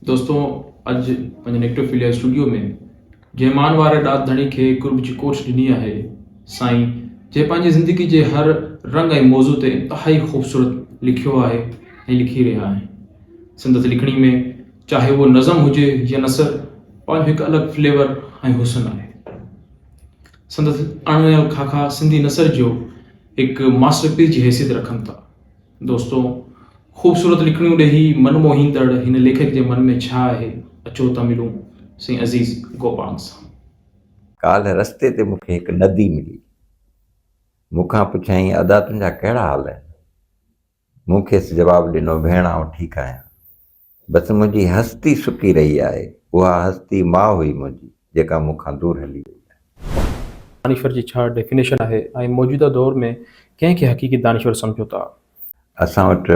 دوستو اڄ پنهنجي نيڪٽوفيليا اسٽوڊيو ۾ جنهن مان واري ڏات ڌڻي کي قرب جي ڪوٺ ڏني آهي سائين جنهن پنهنجي زندگي جي هر رنگ ۽ موضوع تي انتهائي خوبصورت لکيو آهي ۽ لکي رهيا آهن سندس لکڻي ۾ چاهي اهو نظم هجي يا نثر پنهنجو هڪ الڳ فليور ۽ حسن آهي سندس اڻ ويل خاڪا سنڌي نثر جو هڪ ماسٽر پيس جي حيثيت رکن ٿا دوستو! خوبصورت لکڻيون ڏيهي من موهيندڙ هن ليکڪ جي من ۾ ڇا آهي؟ اچو ته ملون سائين عزيز گوپانگ سان. ڪالهه رستي تي مون کي هڪ ندي ملي. مون کان پڇيائين ادا تنهنجا ڪهڙا حال آهن؟ مون کيس جواب ڏنو ڀيڻ آئون ٺيڪ آهيان. بس منهنجي هستي سڪي رهي آهي. اها هستي ماء هئي منهنجي جيڪا مون کان دور هلي وئي آهي. دانشور جي ڇا ڊيفينيشن آهي ۽ موجوده دور ۾ ڪنهن کي حقيقي دانشور سمجهو ٿا؟ اسان وٽ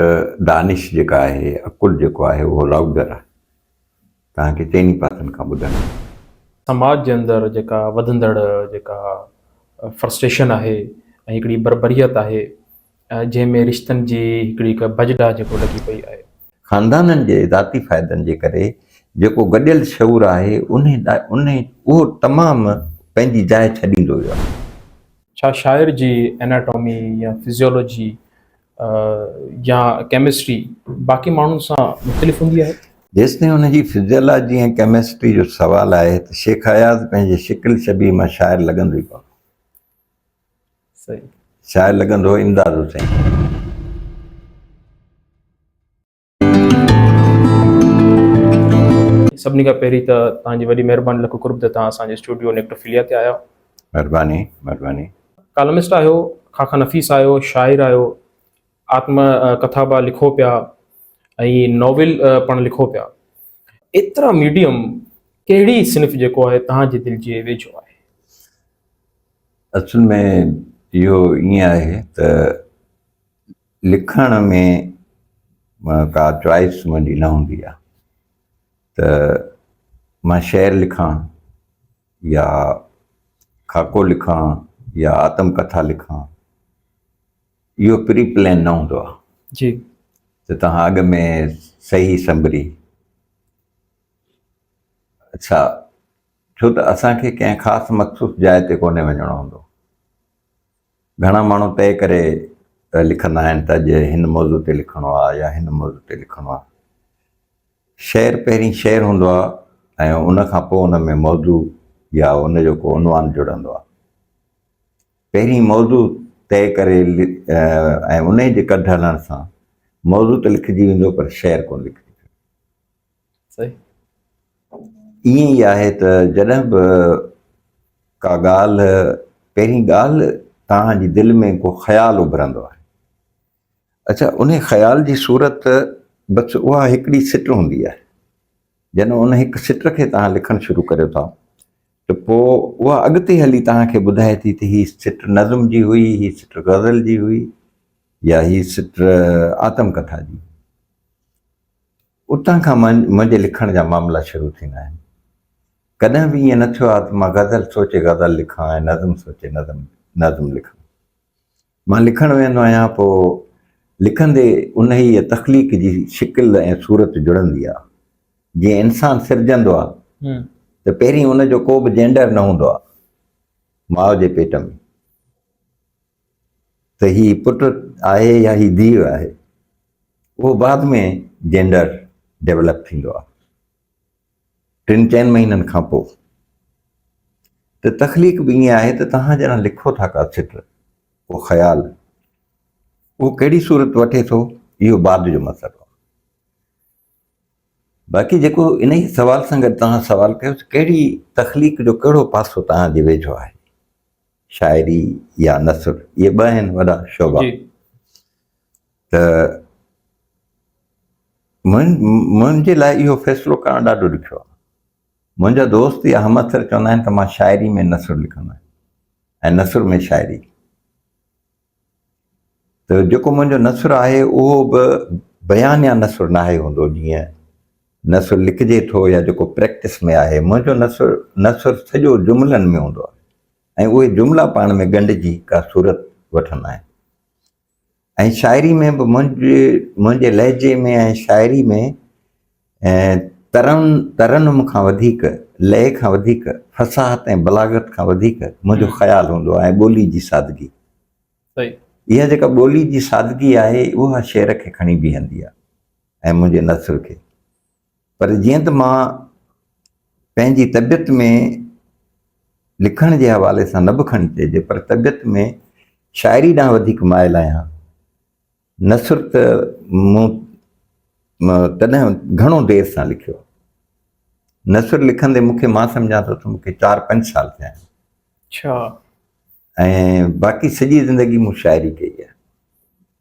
دانش جيڪا آهي، عقل جيڪو آهي اهو لائوڊر آهي. توهان کي چئني پاسن کان ٻڌڻ ڏيندو. سماج جي اندر جيڪا وڌندڙ جيڪا فرسٽريشن آهي ۽ هڪڙي بربريت آهي. جنهن ۾ رشتن جي هڪڙي هڪ بجڊا جيڪو لڳي پئي آهي. خاندانن جي ذاتي فائدن جي ڪري جيڪو گڏيل شعور آهي ان اهو تمام پنهنجي جاء ڇڏيندو ويو آهي. ڇا شاعر جي ايناٽامي يا فزيولوجي يا ڪيمسٽري باقي ماڻهن سان مختلف هوندي آهي؟ جيستائين ان جي فزيالاجي ۽ ڪيمسٽري جو سوال آهي ته شيخ اياز پنهنجي شڪل شبيهه مان شاعر لڳندو ئي ڪونه. شاعر لڳندو امداد حسين. سڀني کان پهرين ته توهان جي وڏي مهرباني لک قرب ته توهان اسان جي اسٽوڊيو نيڪٽوفيليا تي آيا. مهرباني مهرباني. ڪالمسٽ آهيو، خاخا نفيس آهيو، شاعر آهيو، آتم ڪٿا به لکو پيا ۽ ناول پڻ لکو پيا. ايترا ميڊيم ڪهڙي صنف جيڪو آهي توهان جي دل جي ويجهو آهي؟ اصل ۾ اهو ائين آهي ته لکڻ ۾ ڪا چوائس منهنجي نه هوندي آهي ته مان شعر لکان يا خاڪو لکان يا آتم ڪٿا لکان اهو پري پلان نه هوندو آهي جي ته توهان اڳ ۾ صحيح سنبري اڇا ڇو ته اسان کي ڪنهن خاص مخصوص جاء تي ڪونهي وڃڻو هوندو گهڻا ماڻهو طئي ڪري لکندا آهن ته اڄ هن موضوع تي لکڻو آهي يا هن موضوع تي لکڻو آهي شعر پهرين شعر هوندو آهي ۽ ان کان پوء ان ۾ موضوع يا ان جو ڪو عنوان جڙندو آهي پهرين موضوع طئي ڪري ۽ انهي جي ڪڍ هلڻ سان موضوع ته لکجي ويندو پر شعر ڪونه لکجي صحيح ائين ئي آهي ته جڏهن به ڪا ڳالهه پهرين ڳالهه توهان جي دل ۾ ڪو خيال اڀرندو آهي اڇا انهي خيال جي صورت بس اها هڪڙي سٽ هوندي آهي. جڏهن ان هڪ سٽ کي توهان لکڻ شروع ڪريو ٿا ته پوء اها اڳتي هلي توهان کي ٻڌائي ٿي ته هي سٽ نظم جي هئي، هي سٽ غزل جي هئي يا هي سٽ آتم ڪٿا جي. اتان کان منهنجي لکڻ جا معاملا شروع ٿيندا آهن. ڪڏهن به ائين نه ٿيو آهي ته مان غزل سوچي غزل لکان ۽ نظم سوچي نظم لکان. مان لکڻ ويهندو آهيان پوء لکندي انهيء تخليق جي شڪل ۽ صورت جڙندي آهي. جيئن انسان سرجندو آهي ته پهرين ان جو ڪو به جينڊر نه هوندو آهي ماء جي پيٽ ۾ ته هي پٽ آهي يا هي ڌيء آهي اهو بعد ۾ جينڊر ڊيولپ ٿيندو آهي ٽن چئن مهينن کان پوء ته تخليق به ائين آهي ته توهان جڏهن لکو ٿا ڪا سٽ ڪو خيال اهو ڪهڙي صورت وٺي ٿو اهو بعد جو مسئلو آهي باقي جيڪو ان ئي سوال سان گڏ توهان سوال ڪيو ته ڪهڙي تخليق جو ڪهڙو پاسو توهان جي ويجهو آهي شاعري يا نثر اهي ٻه آهن وڏا شعبا ته منهنجي لاء اهو فيصلو ڪرڻ ڏاڍو ڏکيو آهي. منهنجا دوست يا همعصر چوندا آهن ته مان شاعري ۾ نثر لکندو آهيان ۽ نثر ۾ شاعري. ته جيڪو منهنجو نثر آهي اهو به بيانيه نثر ناهي هوندو جيئن نثر لکجي ٿو يا جيڪو پريڪٽس ۾ آهي. منهنجو نثر نثر سڄو جملن ۾ هوندو آهي ۽ اهي جملا پاڻ ۾ ڳنڍجي ڪا صورت وٺندا آهن. ۽ شاعري ۾ به منهنجي منهنجي لهجي ۾ ۽ شاعري ۾ ترن ترنم کان وڌيڪ لئه کان وڌيڪ فصاحت ۽ بلاغت کان وڌيڪ منهنجو خيال هوندو آهي ۽ ٻولي جي سادگي صحيح اها جيڪا ٻولي جي سادگي آهي اها شعر کي کڻي بيهندي آهي ۽ منهنجي نثر کي پر جيئن ته مان پنهنجي طبيعت ۾ لکڻ جي حوالي سان نه به کڻي چئجي پر طبيعت ۾ شاعري ڏانهن وڌيڪ مائل آهيان نثر ته مون تڏهن گهڻو دير سان لکيو نثر لکندي مون کي مان سمجھان ٿو ته مون کي چار پنج سال ٿيا آهن اچھا ۽ باقي سڄي زندگي مون شاعري ڪئي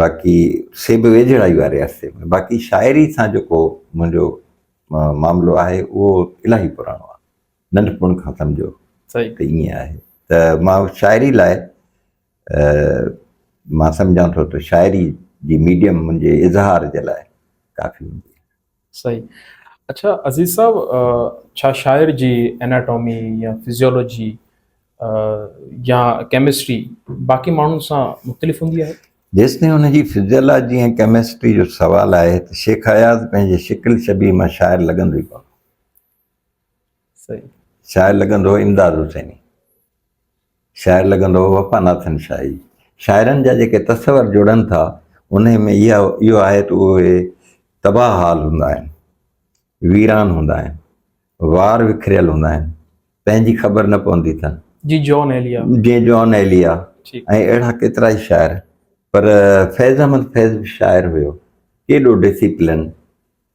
باقي سي به ويجهڙائي واري عرصي ۾ باقي شاعري سان جيڪو منهنجو معاملو آهي اهو الاهي پراڻو آهي ننڍپڻ کان سمجهو ته ائين آهي ته مان شاعري لاء مان سمجهان ٿو ته شاعري جي ميڊيم منهنجي اظهار جي لاء ڪافي هوندي صحيح اڇا عزيز صاحب ڇا شاعر جي اناٽامي يا فزيولوجي يا ڪيمسٽري باقي ماڻهن سان مختلف هوندي آهي؟ جيستائين ان جي فزيولاجي ۽ ڪيمسٽري جو سوال آهي ته شيخ اياز پنهنجي شڪل شبيهه مان شاعر لڳندو ئي ڪونه هو. شاعر لڳندو هو امداد حسيني شاعر لڳندو هو وفا ناٿن شاهي شاعرن جا جيڪي تصور جڙن ٿا ان ۾ اها اهو آهي ته اهي تباهه حال هوندا آهن ويران هوندا آهن وار وکريل هوندا آهن پنهنجي خبر نه پوندي اٿن جي جون ايليا جي جون ايليا ۽ اهڙا ڪيترا ئي شاعر پر فيض احمد فيض به شاعر هيو ڪيڏو ڊسپلن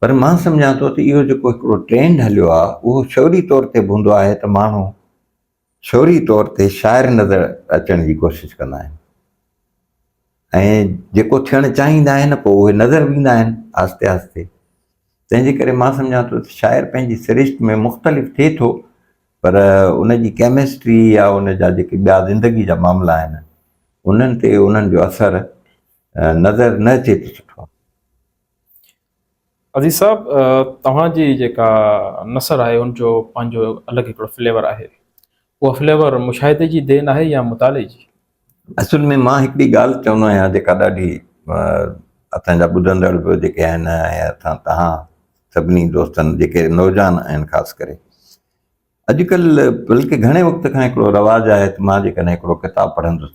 پر مان سمجهان ٿو ته اهو جيڪو هڪڙو ٽرينڊ هليو آهي اهو شعوري طور تي به هوندو آهي ته ماڻهو شعوري طور تي شاعر نظر اچڻ جي ڪوشش ڪندا آهن ۽ جيڪو ٿيڻ چاهيندا آهن پوء اهي نظر به ايندا آهن آهستي آهستي تنهن جي ڪري مان سمجهان ٿو ته شاعر پنهنجي سرشت ۾ مختلف ٿئي ٿو پر ان جي ڪيمسٽري يا ان جا جيڪي ٻيا زندگي جا معاملا آهن انهن تي انهن جو اثر نظر نه اچي ته سٺو عزيز صاحب توهان جي جيڪا نثر آهي ان جو پنهنجو الڳ هڪڙو فليور آهي اهو فليور مشاهدي جي دين آهي يا مطالعي جي اصل ۾ مان هڪڙي ڳالهه چوندو آهيان جيڪا ڏاڍي اسان جا ٻڌندڙ به جيڪي آهن ۽ اسان تهان سڀني دوستن جيڪي نوجوان آهن خاص ڪري اڄڪلهه بلڪه گهڻي وقت کان هڪڙو رواج آهي ته مان جيڪڏهن هڪڙو ڪتاب پڙهندس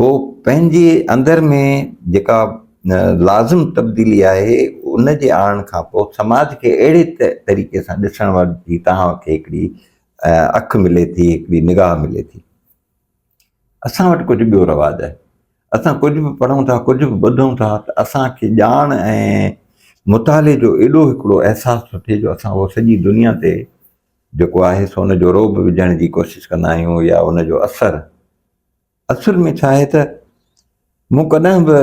پوء پنهنجي اندر ۾ جيڪا لازم تبديلي آهي ان جي آڻڻ کان پوء سماج کي اهڙي طريقي سان ڏسڻ واري جي توهان کي هڪڙي اک ملي ٿي هڪڙي نگاهه ملي ٿي اسان وٽ ڪجهه ٻيو رواج آهي اسان ڪجهه به پڙهون ٿا ڪجهه به ٻڌون ٿا ته اسان کي ڄاڻ ۽ مطالعي جو ايڏو هڪڙو احساس ٿو ٿئي جو اسان اهو سڄي دنيا تي جيڪو آهي سو ان جو روب وجهڻ جي ڪوشش ڪندا آهيون يا ان جو اثر اصل ۾ ڇا آهي ته مون ڪڏهن به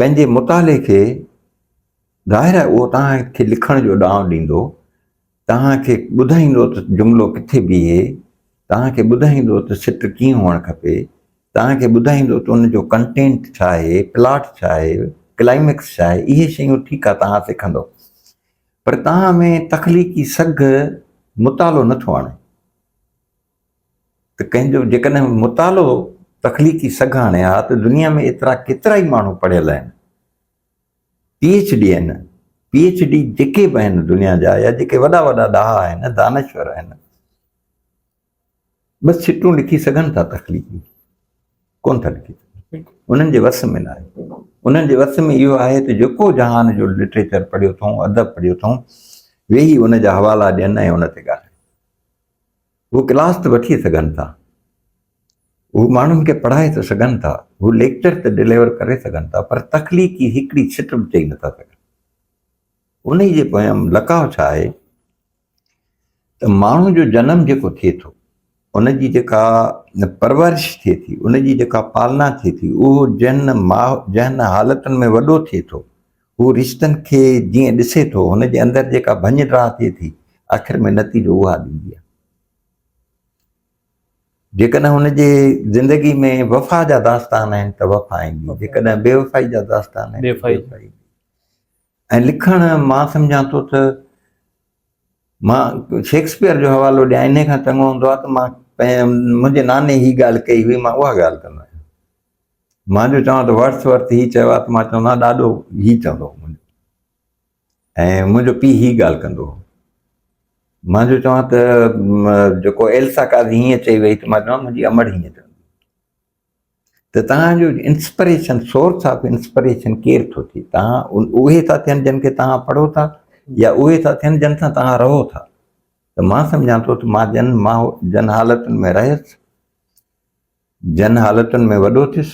پنهنجي مطالعي کي ظاهر آهي اهو توهان کي لکڻ جو ڏانء ڏيندو توهان کي ٻڌائيندو ته جملو ڪٿي بيهي توهان کي ٻڌائيندو ته سٽ ڪيئن هئڻ کپي توهان کي ٻڌائيندو ته ان جو ڪنٽينٽ ڇا آهي پلاٽ ڇا آهي ڪلائميڪس ڇا آهي اهي شيون ٺيڪ آهي توهان سکندو پر توهان ۾ تخليقي سگهه مطالعو نٿو آڻي ته ڪنهن جو جيڪڏهن مطالعو تخليقي سگهه آڻي ها ته دنيا ۾ ايترا ڪيترائي ماڻهو پڙهيل آهن، پي ايڇ ڊي آهن، پي ايڇ ڊي جيڪي به آهن دنيا جا يا جيڪي وڏا وڏا ڏاها آهن، دانشور آهن، ٻه سٽون لکي سگهن ٿا تخليقي ڪونه ٿا لکي سگهن، انهن جي وس ۾ ناهي. انهن جي وس ۾ اهو آهي ته جيڪو جهان جو لٽريچر پڙهيو اٿئون، ادب پڙهيو اٿئون، ويهي ان جا حوالا ڏين ۽ ان تي ڳالهائين. هو ڪلاس ته وٺي سگهن ٿا، هو ماڻهن کي پڙهائي ته سگهن ٿا، هو ليڪچر ته ڊليور ڪري سگهن ٿا پر تخليقي هڪڙي ڇٽ به چئي نٿا سگهن. انهي جي پويان لڪاء ڇا آهي ته ماڻهو جو جنم جيڪو ٿئي ٿو، ان جي جيڪا پرورش ٿئي ٿي، ان جي جيڪا پالنا ٿئي ٿي، اهو جنهن جنهن حالتن ۾ وڏو ٿئي ٿو، هو رشتن کي جيئن ڏسي ٿو، هن جي اندر جيڪا ڀڃ ڊاهه ٿئي ٿي، آخر ۾ نتيجو اها ڏيندي آهي. جيڪڏهن هن جي زندگي ۾ وفا جا داستان آهن ته وفا ايندي، جيڪڏهن بي وفائي جا داستان آهن ته بي وفائي ايندي. ۽ لکڻ مان سمجهان ٿو ته مان شيڪسپيئر جو حوالو ڏيان، انهيء کان چڱو هوندو آهي ته مان پنهنجي منهنجي ناني هي ڳالهه ڪئي هئي، مان اها ڳالهه ڪندو آهيان. مان جو چوان ته ورٿ ورٿ هي چيو آهي ته مان چوندو آهيان ڏاڏو هي چوندو هو منهنجو ۽ منهنجو پيء هي ڳالهه ڪندو هو مان جو چوان ته جيڪو ايلسا قاضي هيئن چئي وئي ته مان چوان منهنجي امڙ هيئن چوندي ته تهان جو انسپريشن سورس آف انسپريشن ڪير ٿو ٿئي تهان اهي ٿا ٿين جن کي تهان پڙهو ٿا يا اهي ٿا ٿين جن سان تهان رهو ٿا ته مان سمجھان ٿو ته مان جن مان جن حالتن ۾ رهيس جن حالتن ۾ وڏو ٿيس،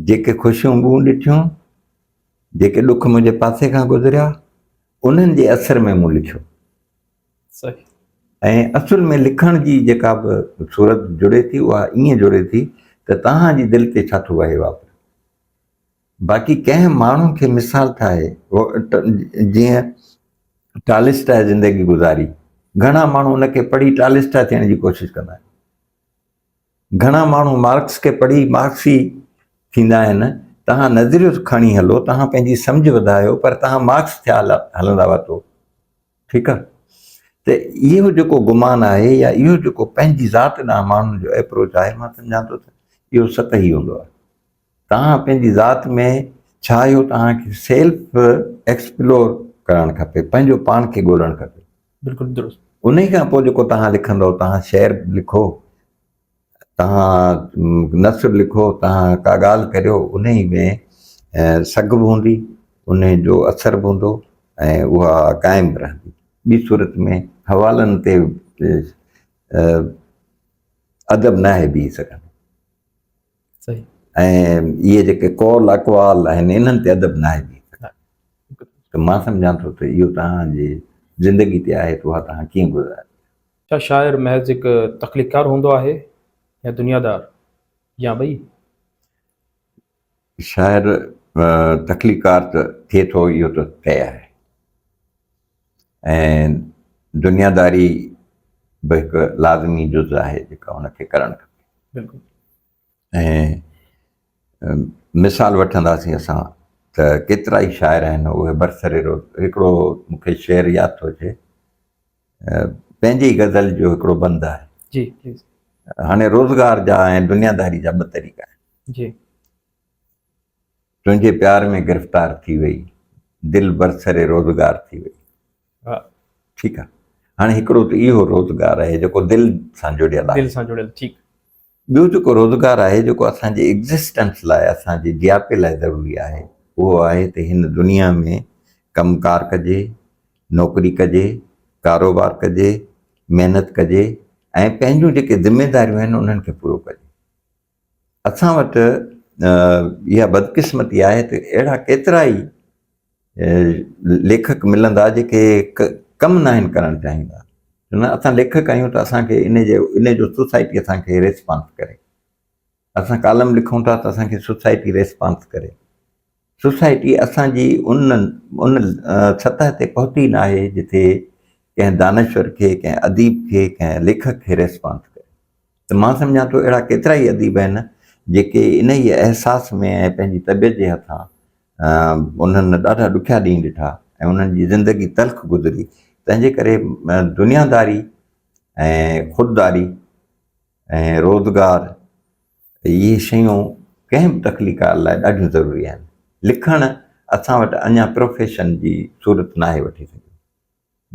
جيڪي خوشيون مون ڏٺيون، جيڪي ڏک منهنجي پاسي کان گذريا، انهن جي اثر ۾ مون لکيو. صحيح. ۽ اصل ۾ لکڻ جي جيڪا به صورت جڙي ٿي، اها ائين جڙي ٿي ته توهان جي دل تي ڇا ٿو وهي واپري. باقي ڪنهن ماڻهو کي مثال ٺاهي، جيئن ٽالسٽاء زندگي گذاري، گهڻا ماڻهو ان کي پڙهي ٽالسٽاء ٿيڻ جي ڪوشش ڪندا آهن. گهڻا ماڻهو مارڪس کي پڙهي مارڪسي ٿيندا آهن، توهان نظريو ته کڻي هلو، توهان پنهنجي سمجهه وڌايو پر توهان مارڪس ٿيا هلندا واتو. ٺيڪ آهي ته اهو جيڪو گمان آهي يا اهو جيڪو پنهنجي ذات ڏانهن ماڻهن جو ايپروچ آهي مان سمجهان ٿو ته اهو سطحي هوندو آهي. توهان پنهنجي ذات ۾ ڇا اهو توهان کي سيلف ايڪسپلور ڪرڻ کپي پنهنجو پاڻ کي ڳولڻ کپي بلڪل درست انهي کان پوء جيڪو توهان لکندو توهان شعر لکو توهان نثر لکو توهان ڪا ڳالهه ڪريو انهي ۾ سگهه به هوندي انهي جو اثر به هوندو ۽ اها قائم به رهندي ٻي صورت ۾ حوالن تي ادب ناهي بيهي سگهندو. ۽ اهي جيڪي قول اقوال آهن انهن تي ادب ناهي ڏئي سگهندو ته مان سمجهان ٿو ته اهو توهان جي زندگي تي آهي ته اها توهان ڪيئن گذاري. ڇا شاعر محض هڪ تخليقڪار هوندو آهي يا دنيادار يا ٻئي؟ شاعر تخليقڪار ته ٿئي ٿو اهو ته طئي آهي. ۽ دنياداري به هڪ لازمي جز آهي جيڪا هن کي ڪرڻ کپي بلڪل ۽ مثال وٺنداسين اسان ته ڪيترا ئي شاعر آهن اهي برسري روز هڪڙو مونکي شعر ياد ٿو اچي پنهنجي غزل جو هڪڙو بند آهي جي هاڻي روزگار جا ۽ دنياداري جا ٻه طريقا آهن جي تنهنجي پيار ۾ گرفتار ٿي وئي دل برسر روزگار ٿي وئي ٺيڪ آ هاڻي هڪڙو ته اهو روزگار آهي جيڪو دل سان جڙيل آهي دل سان جڙيل ٺيڪ ٻيو جيڪو روزگار آهي جيڪو اسان جي ايگزسٽنس لاء اسان جي جياپي لاء ضروري آهي اهو آهي ته هن دنيا ۾ ڪم ڪار ڪجي نوڪري ڪجي ڪاروبار ڪجي محنت ڪجي ۽ پنهنجون جيڪي ذميداريون آهن انهن کي پورو ڪجي اسان وٽ اها بدقسمتي آهي ته اهڙا ڪيترا ئي ليکڪ ملندا جيڪي ڪم ناهن ڪرڻ چاهيندا نه اسان ليکڪ آهيون ته اسانکي ان جي ان جو سوسائٽي اسانکي ريسپانس ڪري اسان ڪالم لکون ٿا ته اسانکي سوسائٽي ريسپانس ڪري سوسائٽي اسان جي ان سطح تي پهتي ناهي جتي ڪنهن دانشور کي، ڪنهن اديب کي، ڪنهن ليکڪ کي ريسپانس ڪري ته مان سمجهان ٿو اهڙا ڪيترا ئي اديب آهن جيڪي انهيء احساس ۾ ۽ پنهنجي طبيعت جي هٿان انهن ڏاڍا ڏکيا ڏينهن ڏٺا ۽ انهن جي زندگي تلخ گذري تنهنجي ڪري دنياداري ۽ خودداري ۽ روزگار اهي شيون ڪنهن به تخليقڪار لاء ڏاڍيون ضروري آهن. لکڻ اسان وٽ اڃا پروفيشن جي صورت ناهي وٺي سگهيو.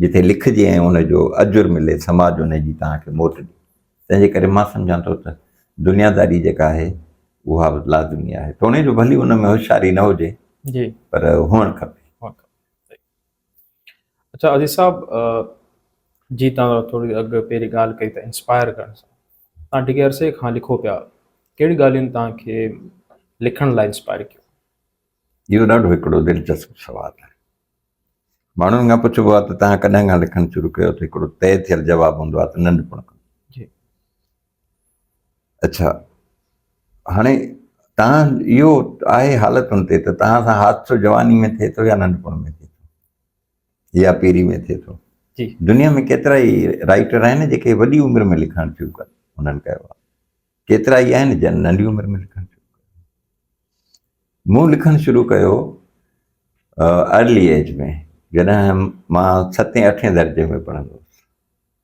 جتي لکجي ۽ ان جو اجر ملي سماج ان جي توهان کي موٽ ڏي. تنهن جي ڪري مان سمجهان ٿو ته دنياداري جيڪا آهي اها به لازمي آهي. توڻي جو ڀلي ان ۾ هوشياري نه هجي پر هئڻ کپي. اچا عزيز صاحب جي تان ٿوري اڳ پهرين ڳالهه ڪئي ته انسپائر ڪرڻ سان تان ڊگهي عرصي کان لکو پيا ڪهڙي ڳالهين تان کي لکڻ لاء انسپائر ڪيو اهو ڏاڍو هڪڙو دلچسپ سوال آهي ماڻهن کان پڇبو آهي ته تان ڪڏهن کان لکڻ شروع ڪيو ته هڪڙو طئي ٿيل جواب هوندو آهي ته ننڍپڻ کان اڇا هاڻي تان اهو آهي حالتن تي ته تان سان حادثو جواني ۾ ٿئي ٿو يا ننڍپڻ ۾ ٿئي ٿو يا پيري ۾ ٿئي ٿو جي دنيا ۾ ڪيترا ئي رائٽر آهن جيڪي وڏي عمر ۾ لکڻ شروع ڪن انهن ڪيو آهي ڪيترا ئي آهن جن ننڍي عمر ۾ لکڻ شروع ڪيو مون لکڻ شروع ڪيو ارلي ايج ۾ جڏهن مان ستين اٺين درجي ۾ پڙهندو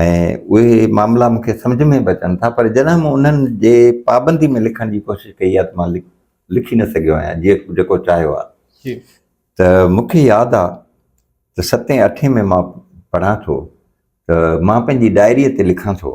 ۽ اهي معاملا مون کي سمجهه ۾ به اچن ٿا پر جڏهن مون انهن جي پابندي ۾ لکڻ جي ڪوشش ڪئي آهي ته مان لکي نه سگهيو آهيان جيئن جيڪو چاهيو آهي ته مون کي ياد آهي ته ستين اٺين ۾ مان پڙهان ٿو ته مان پنهنجي ڊائريء تي لکان ٿو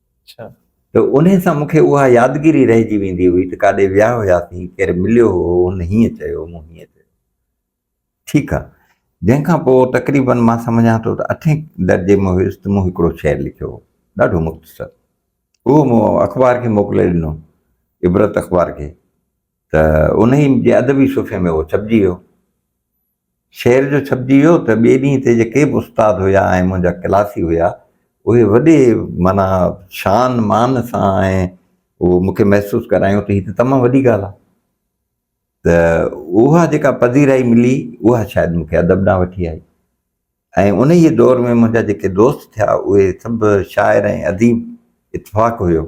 ته انهي سان مون کي اها يادگيري رهجي ويندي هئي ته ڪاڏي ويا هياسين، ڪير مليو هو، هن هيئن چيو، مون هيئن چيو. ٺيڪ آ. جنهن کان پوء تقريبن مان سمجهان ٿو ته اٺين درجي ۾ هيس ته مون هڪڙو شعر لکيو هو. ڏاڍو مختصر. اهو مون اخبار کي موڪلي ڏنو، عبرت اخبار کي، ته انهي جي ادبي صفحي ۾ اهو ڇپجي ويو. شعر جو ڇپجي ويو ته ٻئي ڏينهن تي جيڪي به استاد هيا ۽ منهنجا ڪلاسي هيا اهي وڏي معنيٰ شان مان سان ۽ اهو مون کي محسوس ڪرايون ته هي ته تمام وڏي ڳالهه آهي ته اها جيڪا پذيرائي ملي اها شايد مون کي ادب ڏانهن وٺي آئي ۽ انهيء دور ۾ منهنجا جيڪي دوست ٿيا اهي سڀ شاعر ۽ اديب اتفاق هيو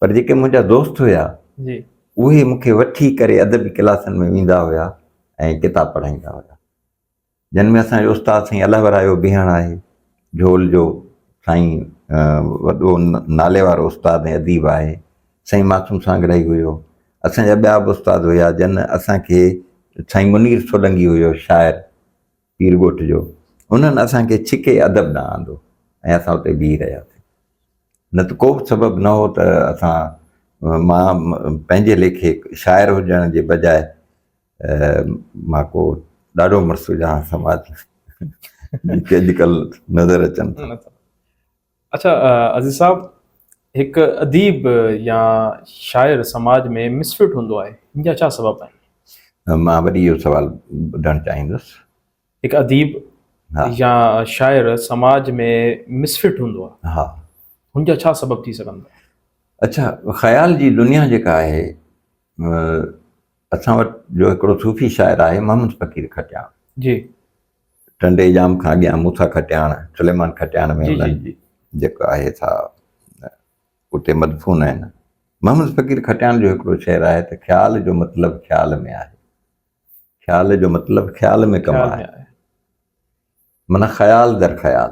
پر جيڪي منهنجا دوست هيا اهي مون کي وٺي ڪري ادبي ڪلاسن ۾ ويندا هيا ۽ ڪتاب پڙهائيندا هيا جن ۾ اسان جو استاد سائين الله ورايو بيهڻ آهي جھول جو سائين وڏو نالي وارو استاد ۽ اديب آهي سائين معصوم سانگڙائي هيو اسان جا ٻيا به استاد هيا جن اسان کي سائين منير سولنگي هيو شاعر پير ڳوٺ جو، انهن اسان کي ڇڪي ادب ڏانهن آندو ۽ اسان اتي بيهي رهياسين. نه ته ڪو به سبب نه هو ته اسان مان پنهنجي ليکي شاعر هجڻ جي بجاء مان ڪو ڏاڍو مڙس هجان سماج جيڪي اڄڪلهه نظر اچن ٿا. اڇا عزيز صاحب هڪ اديب يا شاعر سماج ۾ مسفٽ هوندو آهي ان جا ڇا سبب آهن؟ مان وري اهو سوال ٻڌڻ چاهيندس. هڪ اديب يا شاعر سماج ۾ مسفٽ هوندو آهي. ها. هن جا ڇا سبب ٿي سگهن ٿا؟ اڇا خيال جي دنيا جيڪا آهي اسان وٽ جو هڪڙو صوفي شاعر آهي محمد فقير کٽياڻ جي ٽنڊي ڄام کان اڳيان موسيٰ کٽياڻ، سليمان کٽياڻ ۾ انهن جي جيڪو آهي سا اتي مدفون آهن. محمد فقير کٽياڻ جو هڪڙو شعر آهي ته خيال جو مطلب خيال ۾ آهي. خيال جو مطلب خيال ۾ ڪم آهي. معنيٰ خيال در خيال.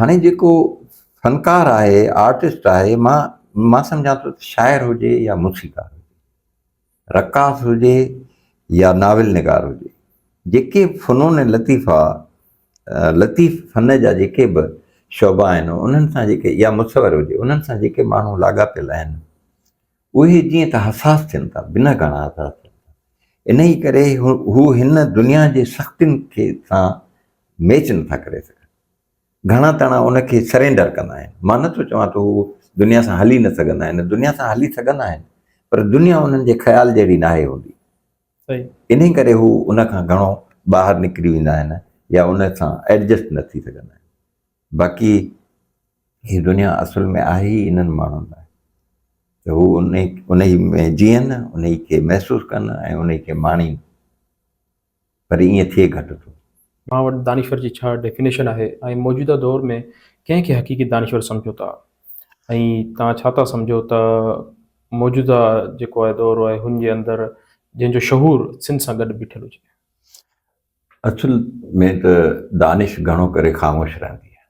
هاڻي جيڪو فنڪار آهي، آرٽسٽ آهي، مان مان سمجهان ٿو ته شاعر هجي يا موسيقار هجي. رقاص هجي يا ناول نگار هجي، جيڪي فنون لطيفه لطيف فن جا جيڪي به شعبا آهن انهن سان جيڪي يا مصور هجي انهن سان جيڪي ماڻهو لاڳاپيل آهن اهي جيئن ته حساس ٿين ٿا بنهه گهڻا حساس ٿين ٿا انهي ڪري هو هن دنيا جي سختين کي سان ميچ نٿا ڪري سگهن. گهڻا تڻا ان کي سرينڊر ڪندا آهن. مان نه ٿو چوان ته هو دنيا سان هلي نه سگهندا آهن، دنيا سان هلي سگهندا آهن، پر دنيا انهن جي خيال جهڙي ناهي هوندي. انهي ڪري هو ان کان گهڻو ٻاهر نڪري ويندا آهن يا ان سان ايڊجسٽ نه ٿي سگهندا آهن. باقي هي دنيا اصل ۾ آهي ئي انهن ماڻهن لاء ته هو انهي ۾ جيئن، انهي کي محسوس ڪن ۽ انهي کي ماڻين. پر ائين ٿئي گهٽ ٿو. اوهان وٽ دانشور جي ڇا ڊيفينيشن آهي ۽ موجوده دور ۾ ڪنهن کي حقيقي دانشور سمجهو ٿا ۽ توهان ڇا ٿا سمجهو ته موجوده جيڪو آهي دور آهي هن جي اندر جنهن جو شهور سنڌ سان گڏ بيٺل هجي. اصل ۾ ته دانش گهڻو ڪري خاموش رهندي آهي.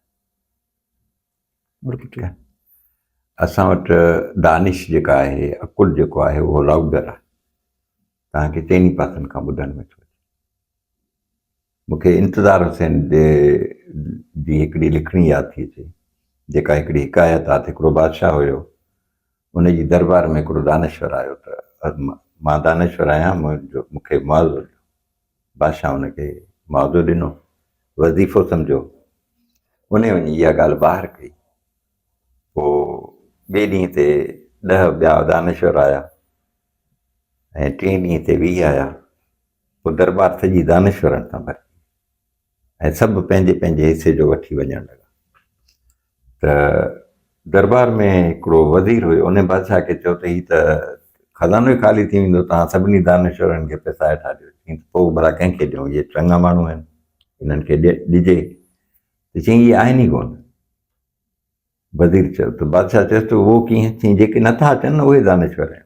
ٺيڪ آهي اسان وٽ دانش جيڪا آهي عقل جيڪو آهي اهو لائوڊر آهي تنهن کي چئني پاسن کان ٻڌڻ ۾ ٿو اچي مون کي انتظار حسين جي جي هڪڙي لکڻي ياد ٿي اچي جيڪا هڪڙي حڪايت آهي هڪڙو بادشاهه هيو ان جي دربار ۾ هڪڙو دانشور آيو ته مان دانشور آهيان منهنجو مون کي معاوضو ڏيو بادشاهه ان کي معاوضو ڏنو، وظيفو سمجهيو، انهي وڃي اها ڳالهه ٻاهر ڪئي. پوء ٻئي ڏينهن تي ڏهه ٻيا دانشور آيا ۽ ٽئين ڏينهن تي ويهه آيا. پوء درٻار سڄي دانشورن سان ڀرجي وئي ۽ سڀ پنهنجي پنهنجي حصي جو وٺي وڃڻ لڳا. ته دربار ۾ هڪڙو وزير هيو، انهيء بادشاهه کي چيو ته هي ته خزانو ئي خالي ٿي ويندو، توهان سڀني دانشورن کي پئسا هيٺان ڏيو. چيائين ته پوء ڀلا ڪنهن کي ڏيون، اهي چڱا ماڻهو آهن، انهن کي ڏجي. ته چيائين اهي آهن ئي ڪونه. وزير چيو ته بادشاهه چيس ته اهو ڪيئن؟ چيائين جيڪي نٿا اچن نه اهي دانشور آهن.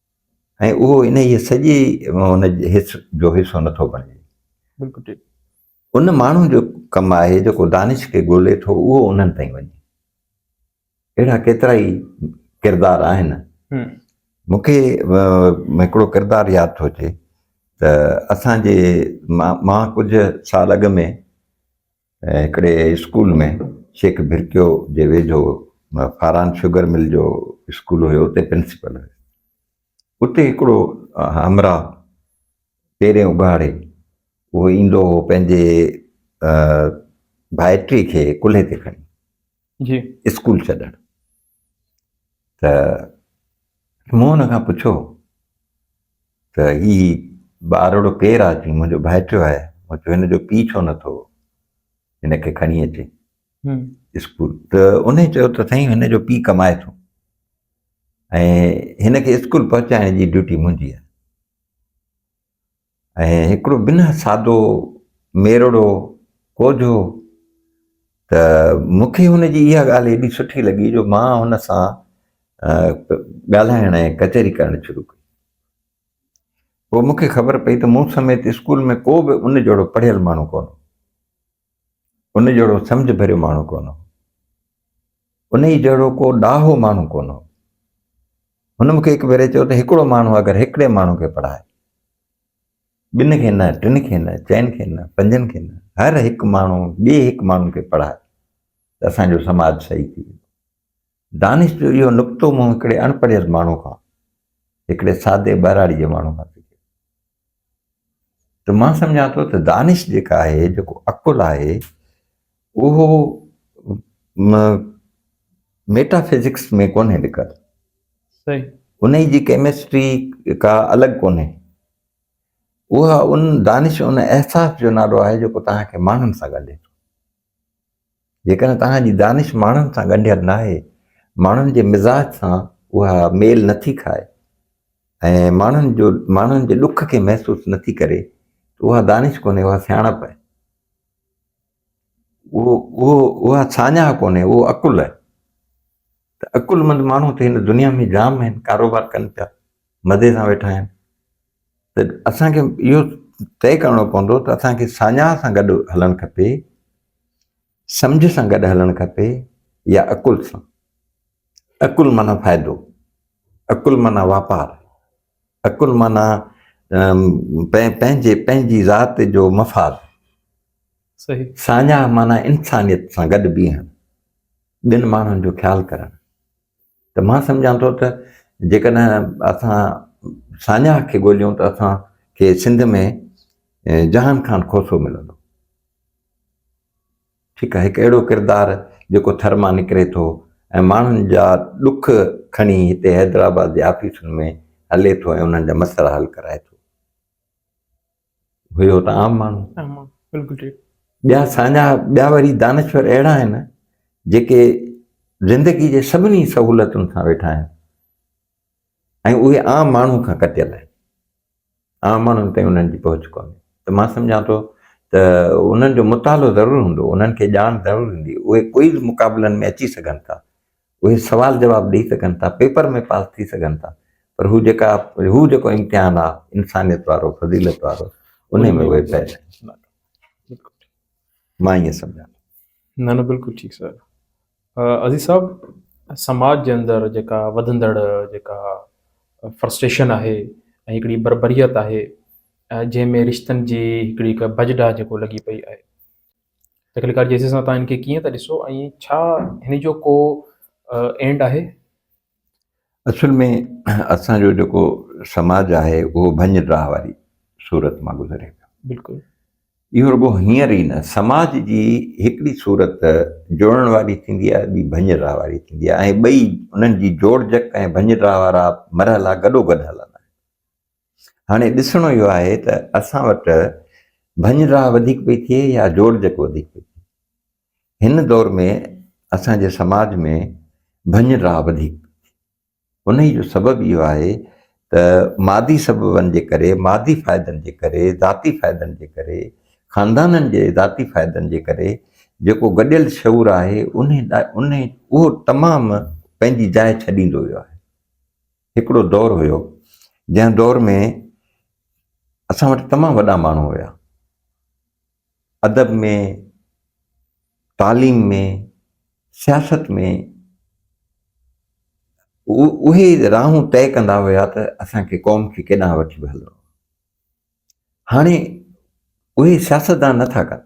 ۽ اهو انهيء سڄي ان حس جو حصو نٿو بڻجي. بلڪل ان ماڻهو جو ڪم آهي جيڪو دانش کي ڳولي ٿو اهو انهن تائين وڃي. اهڙا ڪيترائي ڪردار آهن. مون کي هڪڙو ڪردار ياد ٿو اچي ته اسان جي مان ڪجهه سال اڳ ۾ هڪڙي اسڪول ۾ شيخ ڀرڪيو جي ويجهو فاران شگر مل جو اسڪول هيو اتي پرنسپل هيس اتي هڪڙو همراهه پيرين اگهاڙي اهو ايندو هو پنهنجي ڀائٽي کي ڪلهي تي کڻي جي اسڪول ڇڏڻ ته مون هن کان پڇيو ته هي ٻارڙو ڪير آ چي منهنجو ڀائٽيو آهي مون چيو هن جو پي ڇو نه ٿو هن کي کڻي اچي اسڪول ته ان چيو ته سائين هن جو پي ڪمائي ٿو ۽ هن کي اسڪول پهچائڻ جي ڊيوٽي منهنجي آهي ۽ هڪڙو بنهه سادو ميرڙو ڪوجهو ته مون کي هن جي اها ڳالهه ايڏي سٺي لڳي جو مان هن سان ڳالهائڻ ۽ ڪچهري ڪرڻ شروع ڪئي پوء مون کي خبر پئي ته مون سميت اسڪول ۾ ڪو به ان جهڙو پڙهيل ماڻهو ڪونه هو ان جهڙو سمجھ ڀريو ماڻهو ڪونه هو انهي جهڙو ڪو ڏاهو ماڻهو ڪونه هو هن مونکي هڪ ڀيري چيو ته هڪڙو ماڻهو اگر هڪڙي ماڻهو کي پڙهائي ٻن کي نه ٽن کي نه چئن کي نه پنجن کي نه هر هڪ ماڻهو ٻي هڪ ماڻهو کي پڙهائي ته اسان جو سماج صحيح ٿي ويندو دانش جو اهو نڪتو مون هڪڙي اڻ پڙهيل ماڻهو کان، هڪڙي سادي ٻهراڙي جي ماڻهو کان سکيو ته مان سمجهان ٿو ته دانش جيڪا آهي، جيڪو عقل آهي، اهو ميٽا فزڪس ۾ ڪونهي لڪل. صحيح. انهي جي ڪيمسٽري ڪا الڳ ڪونهي. اها ان دانش ان احساس جو نالو آهي جيڪو توهان کي ماڻهن سان ڳنڍي ٿو. جيڪڏهن توهان جي دانش ماڻهن سان ڳنڍيل ناهي، ماڻهن جي مزاج سان اها ميل نٿي کائي ۽ ماڻهن جو ماڻهن جي ڏک کي محسوس نٿي ڪري ته اها دانش ڪونهي اها سياڻپ آهي. اهو اهو اها ساڃاهه ڪونهي اهو عقل آهي ته عقلمند ماڻهو ته هن دنيا ۾ جام آهن ڪاروبار ڪن پيا مزي سان ويٺا آهن ته اسان کي اهو طئي ڪرڻو پوندو ته اسان کي ساڃاهه سان گڏ هلڻ کپي، سمجهه سان گڏ هلڻ کپي يا عقل سان. عقل معنيٰ فائدو، عقل معنيٰ واپار، عقل معنيٰ پنهنجي پنهنجي ذات جو مفاد. ساڃاهه معنيٰ انسانيت سان گڏ بيهڻ، ٻين ماڻهن جو خيال ڪرڻ، ته مان سمجهان ٿو ته جيڪڏهن اسان ساڃاهه کي ڳوليون ته اسان کي سنڌ ۾ جهان خان کوسو ملندو. ٺيڪ آهي هڪ اهڙو ڪردار جيڪو ٿر مان نڪري ٿو ۽ ماڻهن جا ڏک کڻي هتي حيدرآباد جي آفيسن ۾ هلي ٿو ۽ انهن جا مسئلا حل ڪرائي ٿو. هيو ته عام ماڻهو بلڪل ٺيڪ ٻيا ساڃاها ٻيا وري دانشور اهڙا آهن جيڪي زندگي جي سڀني سهولتن سان ويٺا آهن ۽ اهي عام ماڻهو کان ڪٽيل آهن عام ماڻهن تائين انهن جي پهچ ڪونهي ته مان سمجھان ٿو ته انهن جو مطالعو ضرور هوندو انهن کي ڄاڻ ضرور هوندي اهي ڪوئي به مقابلن ۾ اچي سگھن ٿا اهي سوال جواب ڏئي سگهن ٿا، پيپر ۾ پاس ٿي سگهن ٿا پر هو جيڪا هو جيڪو امتحان آ انسانيت وارو فضيلت وارو انهي ۾ اهي فيل آهن. مان ائين سمجهان ٿو. نه نه بلڪل ٺيڪ سوال آ عزيز صاحب سماج جي اندر جيڪا وڌندڙ جيڪا فرسٽريشن آهي ۽ هڪڙي بربريت آهي جنهن ۾ رشتن جي هڪڙي ڀڄ ڊاهه جيڪو لڳي پئي آهي تخليقڪار جيسي سان تان هن کي ڪيئن ٿا ڏسو ۽ ڇا هن جو ڪو اينڊ آهي؟ اصل ۾ اسان جو جيڪو سماج آهي اهو ڀڃ ڊاهه واري صورت مان گذري پيو. بلڪل. اهو رڳو هينئر ئي نه سماج جي هڪڙي صورت جڙڻ واري ٿيندي آهي ٻي ڀڃ ڊاهه واري ٿيندي آهي ۽ ٻئي انهن جي جوڙجڪ ۽ ڀڃ ڊاهه وارا مرحلا گڏوگڏ هلندا آهن. هاڻي ڏسڻو اهو آهي ته اسان وٽ ڀڃ ڊاهه وڌيڪ پئي ٿئي يا جوڙجڪ وڌيڪ پئي ٿئي. هن دور ۾ اسان جي سماج ۾ ڀڃ ڊاهه وڌيڪ پئي ٿئي. انهي جو سبب اهو آهي ته مادي سببن جي ڪري، مادي فائدن جي ڪري، ذاتي فائدن جي ڪري، خاندانن جي ذاتي فائدن جي ڪري جيڪو گڏيل شعور آهي انهي اهو تمام پنهنجي جاء ڇڏيندو ويو آهي. هڪڙو دور هيو جنهن دور ۾ اسان وٽ تمام وڏا ماڻهو هيا ادب ۾ تعليم ۾ سياست ۾ اهي راهون طئي ڪندا هيا ته اسان کي قوم کي ڪيڏانهن وٺي به هلڻو هاڻي اهي سياستدان نه ٿا ڪن،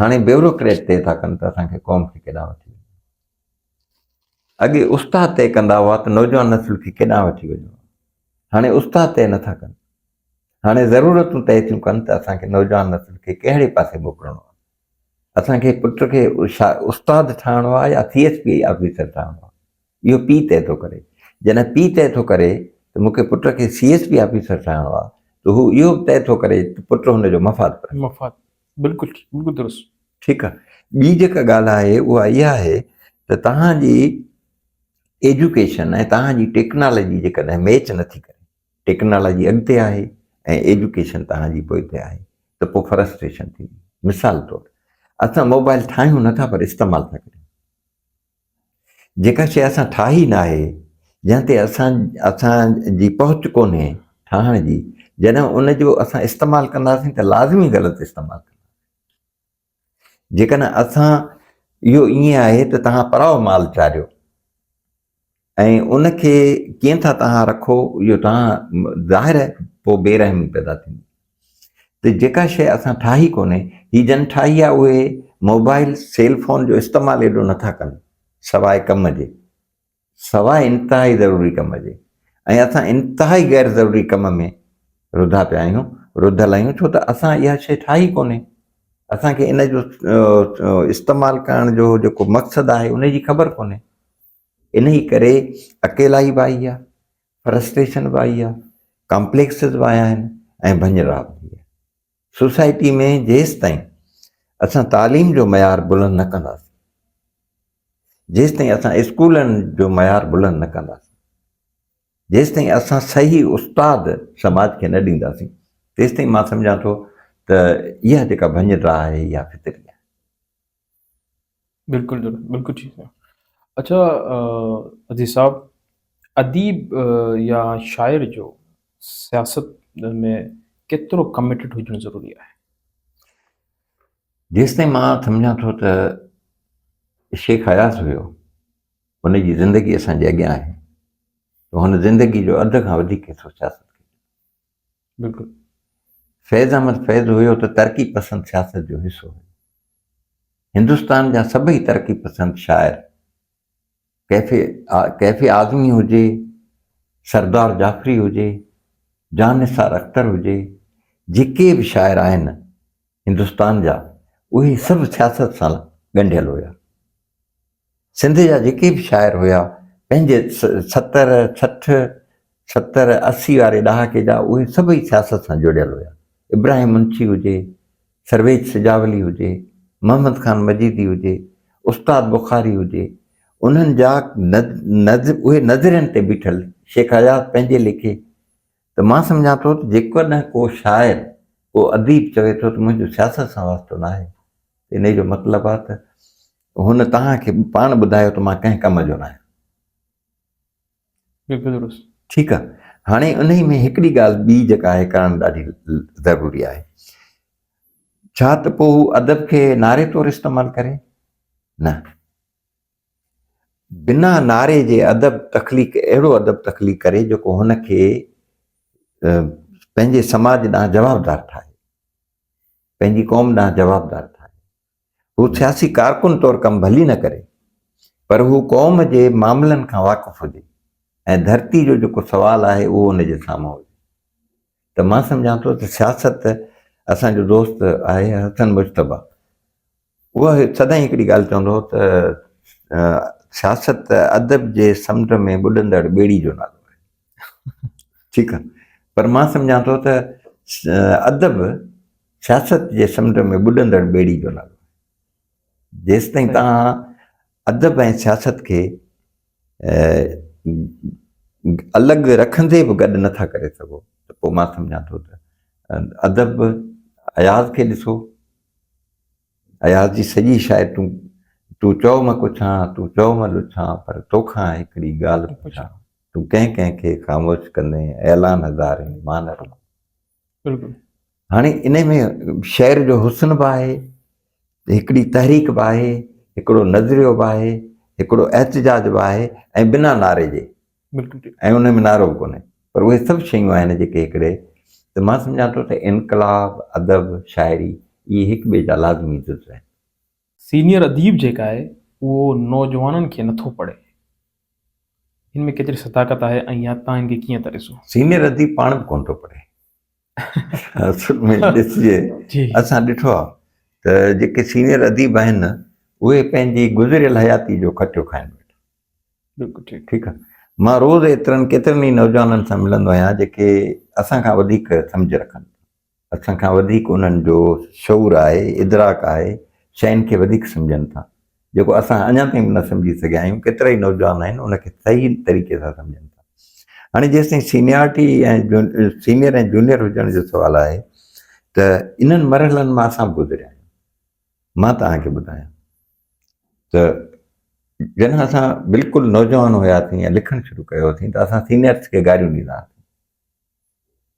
هاڻي بيوروڪريٽ طئي ٿا ڪن ته اسان کي قوم کي ڪيڏانهن وٺي وڃي. اڳي استاد طئي ڪندا هئا ته نوجوان نسل کي ڪيڏانهن وٺي وڃو. هاڻي استاد طئي نه ٿا ڪن. هاڻي ضرورتون طئي ٿيون ڪن ته اسان کي نوجوان نسل کي ڪهڙي پاسي موڪلڻو آهي. اسان کي پٽ کي استاد ٺاهڻو آهي يا سي ايس پي آفيسر ٺاهڻو آهي. اهو پيء طئي ٿو ڪري. جڏهن پيء طئي ٿو ڪري ته مون کي پٽ کي سي ايس پي آفيسر ٺاهڻو آهي ته هو اهو به طئي ٿو ڪري ته پٽ هن جو مفاد پرهي. مفاد بلڪل ٺيڪ بلڪل درست. ٺيڪ آهي ٻي جيڪا ڳالهه آهي اها اها آهي ته توهان جي ايجوڪيشن ۽ توهان جي ٽيڪنالاجي جيڪڏهن ميچ نٿي ڪري ٽيڪنالاجي اڳتي آهي ۽ ايجوڪيشن توهان جي پوئتي آهي ته پوء فرسٽريشن ٿيندي مثال طور اسان موبائل ٺاهيون نٿا پر استعمال ٿا ڪريون. جيڪا شيء اسان ٺاهي ناهي، جنهن تي اسان اسان جي پهچ ڪونهي ٺاهڻ جي، جڏهن ان جو اسان استعمال ڪنداسين ته لازمي غلط استعمال ڪنداسين. جيڪڏهن اسان اهو ائين آهي ته توهان پراء مال چاريو. ۽ ان کي ڪيئن ٿا تنها رکو اهو تنها ظاهر پوء بي رحمي پيدا ٿيندي ته جيڪا شيء اسان ٺاهي ڪونهي هي جن ٺاهي آهي اهي موبائل سيل فون جو استعمال ايڏو نه ٿا ڪن سواء ڪم جي سواء انتهائي ضروري ڪم جي ۽ اسان انتهائي غير ضروري ڪم ۾ رڌا پيا آهيون رڌل آهيون ڇو ته اسان اها شيء ٺاهي ڪونهي اسان کي ان جو استعمال ڪرڻ جو جيڪو مقصد آهي ان جي خبر ڪونهي انهي ڪري اڪيلائي به آئي آهي، فرسٽريشن به آئي آهي، ڪامپليڪسز به آيا آهن ۽ ڀڃرڙا به ٿي آهي. سوسائٽي ۾ جيستائين اسان تعليم جو معيار بلند نه ڪنداسين، جيستائين اسان اسڪولن جو معيار بلند نه ڪنداسين، جيستائين اسان صحيح استاد سماج کي نه ڏينداسين، تيستائين مان سمجهان ٿو ته اها جيڪا ڀڃرڙا آهي اها فطري آهي. بلڪل جناب بلڪل ٺيڪ آ اڇا عزيز صاحب اديب يا شاعر جو سياست ۾ ڪيترو ڪمٽيڊ هجڻ ضروري آهي جيستائين مان سمجھان ٿو ته شيخ اياز هيو ان جي زندگي اسان جي اڳيان آهي ته هن زندگي جو اڌ کان وڌيڪ حصو سياست بلڪل فيض احمد فيض هيو ته ترقي پسند سياست جو حصو هيو هندستان جا سڀئي ترقي پسند شاعر ڪيفي ڪيفي اعظمي هجي سردار جعفري هجي جان نثار اختر هجي جيڪي به شاعر آهن هندستان جا اهي سڀ سياست سان ڳنڍيل هيا سنڌ جا جيڪي به شاعر هيا پنهنجي ستر سٺ ستر اسي واري ڏهاڪي جا اهي سڀئي سياست سان جڙيل هيا ابراهيم منشي هجي سرويچ سجاولي هجي محمد خان مجيدي هجي استاد بخاري هجي انهن جا اهي نظرين تي بيٺل شيخ اياز پنهنجي ليکي ته مان سمجهان ٿو ته جيڪڏهن ڪو شاعر ڪو اديب چوي ٿو ته منهنجو سياست سان واسطو ناهي انهي جو مطلب آهي ته هن توهان کي پاڻ ٻڌايو ته مان ڪنهن ڪم جو نه آهيان. بلڪل درست. ٺيڪ آهي هاڻي انهي ۾ هڪڙي ڳالهه ٻي جيڪا آهي ڪرڻ ڏاڍي ضروري آهي ڇا ته پوء هو ادب کي نعري طور استعمال ڪري نه بنا نعري جي ادب تخليق اهڙو ادب تخليق ڪري جيڪو هن کي پنهنجي سماج ڏانهن جوابدار ٺاهي پنهنجي قوم ڏانهن جوابدار ٺاهي هو سياسي ڪارڪن طور ڪم ڀلي نه ڪري پر هو قوم جي معاملن کان واقف هجي ۽ ڌرتي جو جيڪو سوال آهي اهو ان جي سامهون هجي ته مان سمجهان ٿو ته سياست اسان جو دوست آهي حسن مشتبه اها سدائين هڪڙي ڳالهه چوندو هو ته سياست ادب جي سمنڊ ۾ ٻڏندڙ ٻيڙي جو نالو ٺيڪ آ پر مان سمجهان ٿو ته ادب سياست جي سمنڊ ۾ ٻڏندڙ ٻيڙي جو نالو جيستائين توهان ادب ۽ سياست کي الڳ رکندي به گڏ نٿا ڪري سگهو ته پوء مان سمجهان ٿو ته ادب اياز کي ڏسو اياز جي سڄي شاعر تون تون چؤ مان ڪڇان تون چؤ مان لڇان پر توکان هڪڙي ڳالهه پڇان تون ڪنهن ڪنهن کي خاموش ڪندين اعلان هزارين مان رڳو بلڪل هاڻي انهي ۾ شعر جو حسن به آهي هڪڙي تحريڪ به آهي هڪڙو نظريو به آهي هڪڙو احتجاج به آهي ۽ بنا نعري جي بلڪل ۽ ان ۾ نعرو به ڪونهي پر اهي سڀ شيون آهن جيڪي هڪڙي ته مان سمجهان ٿو ته انقلاب ادب شاعري اهي هڪ ٻئي جا لازمي جز آهن سينيئر اديب جيڪ آهي اهو نوجوانن کي نٿو پڙهي. هن ۾ ڪيتري صداقت آهي ۽ يا تان هن کي ڪيئن ٿا ڏسو؟ سينيئر اديب پاڻ به ڪونه ٿو پڙهي. اصل ۾ ڏسجي اسان ڏٺو آهي ته جيڪي سينيئر اديب آهن نه اهي پنهنجي گذريل حياتي جو کٽيو کائن ويٺا. بلڪل ٺيڪ. ٺيڪ آهي. مان روز ايترن ڪيترن ئي نوجوانن سان ملندو آهيان جيڪي اسان کان وڌيڪ سمجهه رکن ٿا. اسان کان وڌيڪ انهن جو شعور آهي، ادراڪ آهي، شين کي وڌيڪ سمجهن ٿا، جيڪو اسان اڃا تائين به نه سمجهي سگهيا آهيون، ڪيترائي نوجوان آهن ان کي صحيح طريقي سان سمجهن ٿا. هاڻي جيستائين سينيارٽي ۽ سينيئر ۽ جونيئر هجڻ جو سوال آهي ته انهن مرحلن مان اسان به گذريا آهيون. مان توهان کي ٻڌايان ته جڏهن اسان بلڪل نوجوان هياسين ۽ لکڻ شروع ڪيو هوسين ته اسان سينيئرس کي گاريون ڏيندا هئاسين.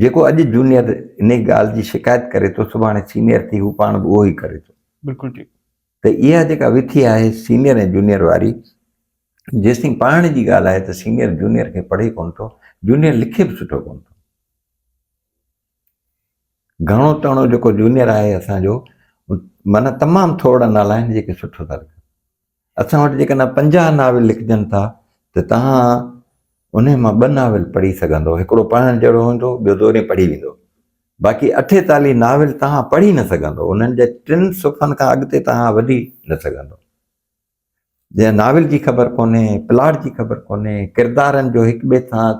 جيڪو اڄ جونيئر انهي ڳالهه جي شڪايت ڪري ٿو سڀاڻي سينيئر ٿي هو پاڻ به اهو ئي ڪري ٿو. بلڪل ٺيڪ. ته اها جيڪا وٿي آهي سينيئر ۽ جونيئر واري جيستائين پڙهڻ جي ڳالهه آهي ته سينيئر جونيئر کي پڙهي ڪونه ٿو جونيئر لکي به سٺو ڪونه ٿو. گهڻو تڻو جيڪو جونيئر آهي اسان جو معنيٰ تمام ٿورڙا نالائق جيڪي سٺو ٿا لکن. اسان وٽ جيڪڏهن پنجاهه ناول لکجن ٿا ته توهان انهي مان ٻه ناول پڙهي سگهندؤ، هڪڙو پڙهڻ جهڙو هوندو، ٻيو دورين پڙهي ويندو. باقي اٺيتاليهه ناول توهان پڙهي نه سگهندؤ، انهن جي ٽن صفحن کان اڳتي توهان وڌي نه سگهندؤ. جنهن ناول جي خبر ڪونهي، پلاٽ جي خبر ڪونهي، ڪردارن جو هڪ ٻئي سان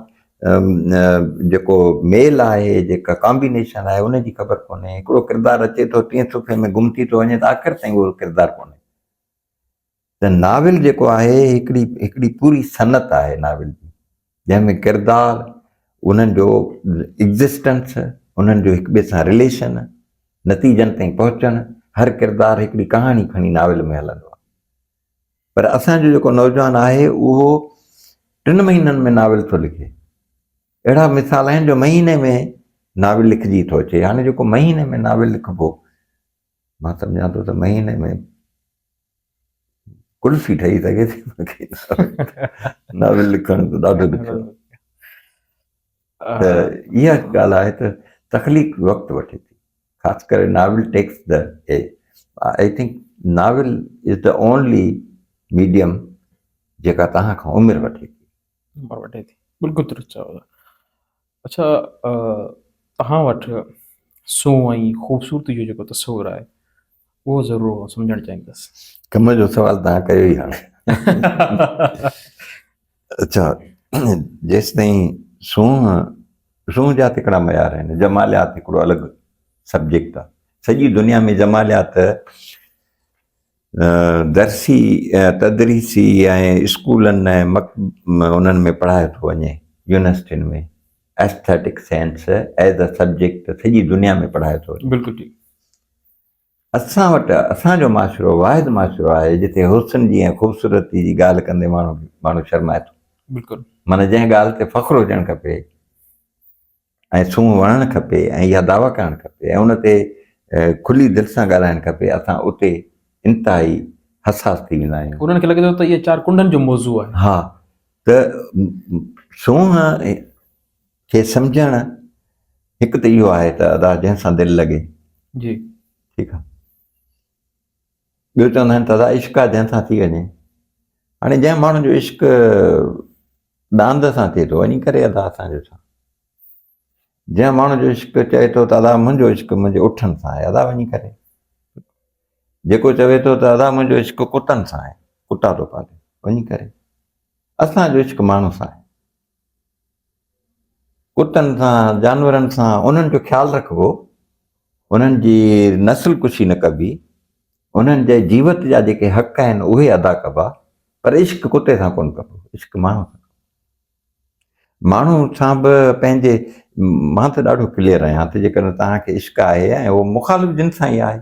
جيڪو ميل آهي، جيڪا ڪامبينيشن آهي، ان جي خبر ڪونهي، هڪڙو ڪردار اچي ٿو ٽئين صفحي ۾ گم ٿي ٿو وڃي ته آخر تائين اهو ڪردار ڪونهي. ته ناول جيڪو آهي هڪڙي هڪڙي پوري صنعت آهي ناول جي جنهن ۾ ڪردار انهن جو ايگزسٽنس انهن جو هڪ ٻئي سان رليشن نتيجن تائين پهچڻ هر ڪردار هڪڙي ڪهاڻي کڻي ناول ۾ هلندو آهي پر اسان جو جيڪو نوجوان آهي اهو ٽن مهينن ۾ ناول ٿو لکي اهڙا مثال آهن جو مهيني ۾ ناول لکجي ٿو اچي هاڻي جيڪو مهيني ۾ ناول لکبو مان سمجهان ٿو ته مهيني ۾ قلفي ٺهي سگهي ٿي باقي ناول لکڻ ته ڏاڍو ڏکيو ته اها ڳالهه آهي ته تخليق وقت وٺي ٿي خاص ڪري novel text the I think novel is the only medium جيڪا توهان کان عمر وٺي ٿي عمر وٺي ٿي بلڪل درست چيو اڇا توهان وٽ سونهن ۽ خوبصورتي جو جيڪو تصور آهي اهو ضرور آئون سمجهڻ چاهيندس. ڪم جو سوال توهان ڪيو ئي هاڻي. اڇا جيستائين سونهن سونهن جا تڪڙا معيار آهن جماليات هڪڙو الڳ سبجيڪٽ آهي سڄي دنيا ۾ جماليات درسي ۽ تدريسي ۽ اسڪولن ۽ مڪ انهن ۾ پڙهايو ٿو وڃي يونيورسٽين ۾ aesthetic sense as a subject سڄي دنيا ۾ پڙهايو ٿو وڃي بلڪل ٺيڪ اسان وٽ اسان جو معاشرو واحد معاشرو آهي جتي حسن جي ۽ خوبصورتي جي ڳالهه ڪندي ماڻهو ماڻهو شرمائي ٿو بلڪل معنيٰ جنهن ڳالهه تي فخر هجڻ کپي ۽ سونهن وڻڻ کپي ۽ اها دعويٰ ڪرڻ کپي ۽ ان تي کلي دل سان ڳالهائڻ کپي، اسان اتي انتهائي حساس ٿي ويندا آهيون. انهن کي لڳي ٿو ته اهي چار ڪنڊن جو موضوع آهي. ها ته سونهن کي سمجهڻ هڪ ته اهو آهي ته ادا جنهن سان دل لڳي. جي. ٺيڪ آهي. ٻيو چوندا آهن ته ادا عشق آ جنهن سان ٿي وڃي هاڻي جنهن ماڻهو جو عشق ڏاند سان ٿئي ٿو وڃي ڪري ادا اسان جو ڇا جنهن ماڻهو جو عشق چئي ٿو ته ادا منهنجو عشق منهنجي اٺن سان آهي ادا وڃي ڪري جيڪو چوي ٿو ته ادا منهنجو عشق ڪتن سان آهي ڪتا ٿو پالي وڃي ڪري اسان جو عشق ماڻهو سان آهي ڪتن سان جانورن سان انهن جو خيال رکبو انهن جي نسل ڪشي نه ڪبي انهن جي جيوت جا جيڪي حق آهن اهي ادا ڪبا پر عشق ڪتي سان ڪون ڪبو عشق ماڻهو سان ماڻهو سان به پنهنجي مان ته ڏاڍو ڪليئر آهيان ته جيڪڏهن توهان کي عشق آهي ۽ اهو مخالف جن سان ئي آهي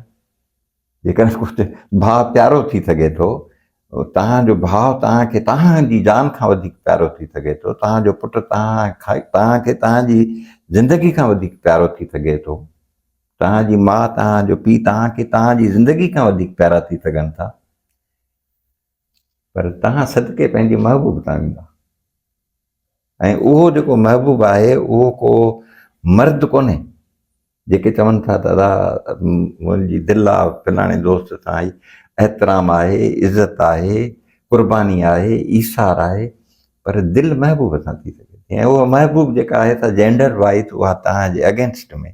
جيڪڏهن ڪجهه ڀاء پيارو ٿي سگهي ٿو، توهان جو ڀاء توهان کي توهان جي جان کان وڌيڪ پيارو ٿي سگهي ٿو، توهان جو پٽ توهان کي توهان جي زندگي کان وڌيڪ پيارو ٿي سگهي ٿو، توهان جي ماء توهان جو پيء توهان کي توهان جي زندگي کان وڌيڪ پيارا ٿي سگهن ٿا. پر توهان صدقي پنهنجي محبوب تان ويندا ۽ اهو جيڪو محبوب آهي اهو ڪو مرد ڪونهي جيڪي چون ٿا ته ادا منهنجي دل آ فلاڻي دوست سان آئي احترام آهي عزت آهي قرباني آهي ايثار آهي پر دل محبوب سان ٿي سگهي ٿي ۽ اها محبوب جيڪا آهي سا جينڊر وائز اها توهان جي اگينسٽ ۾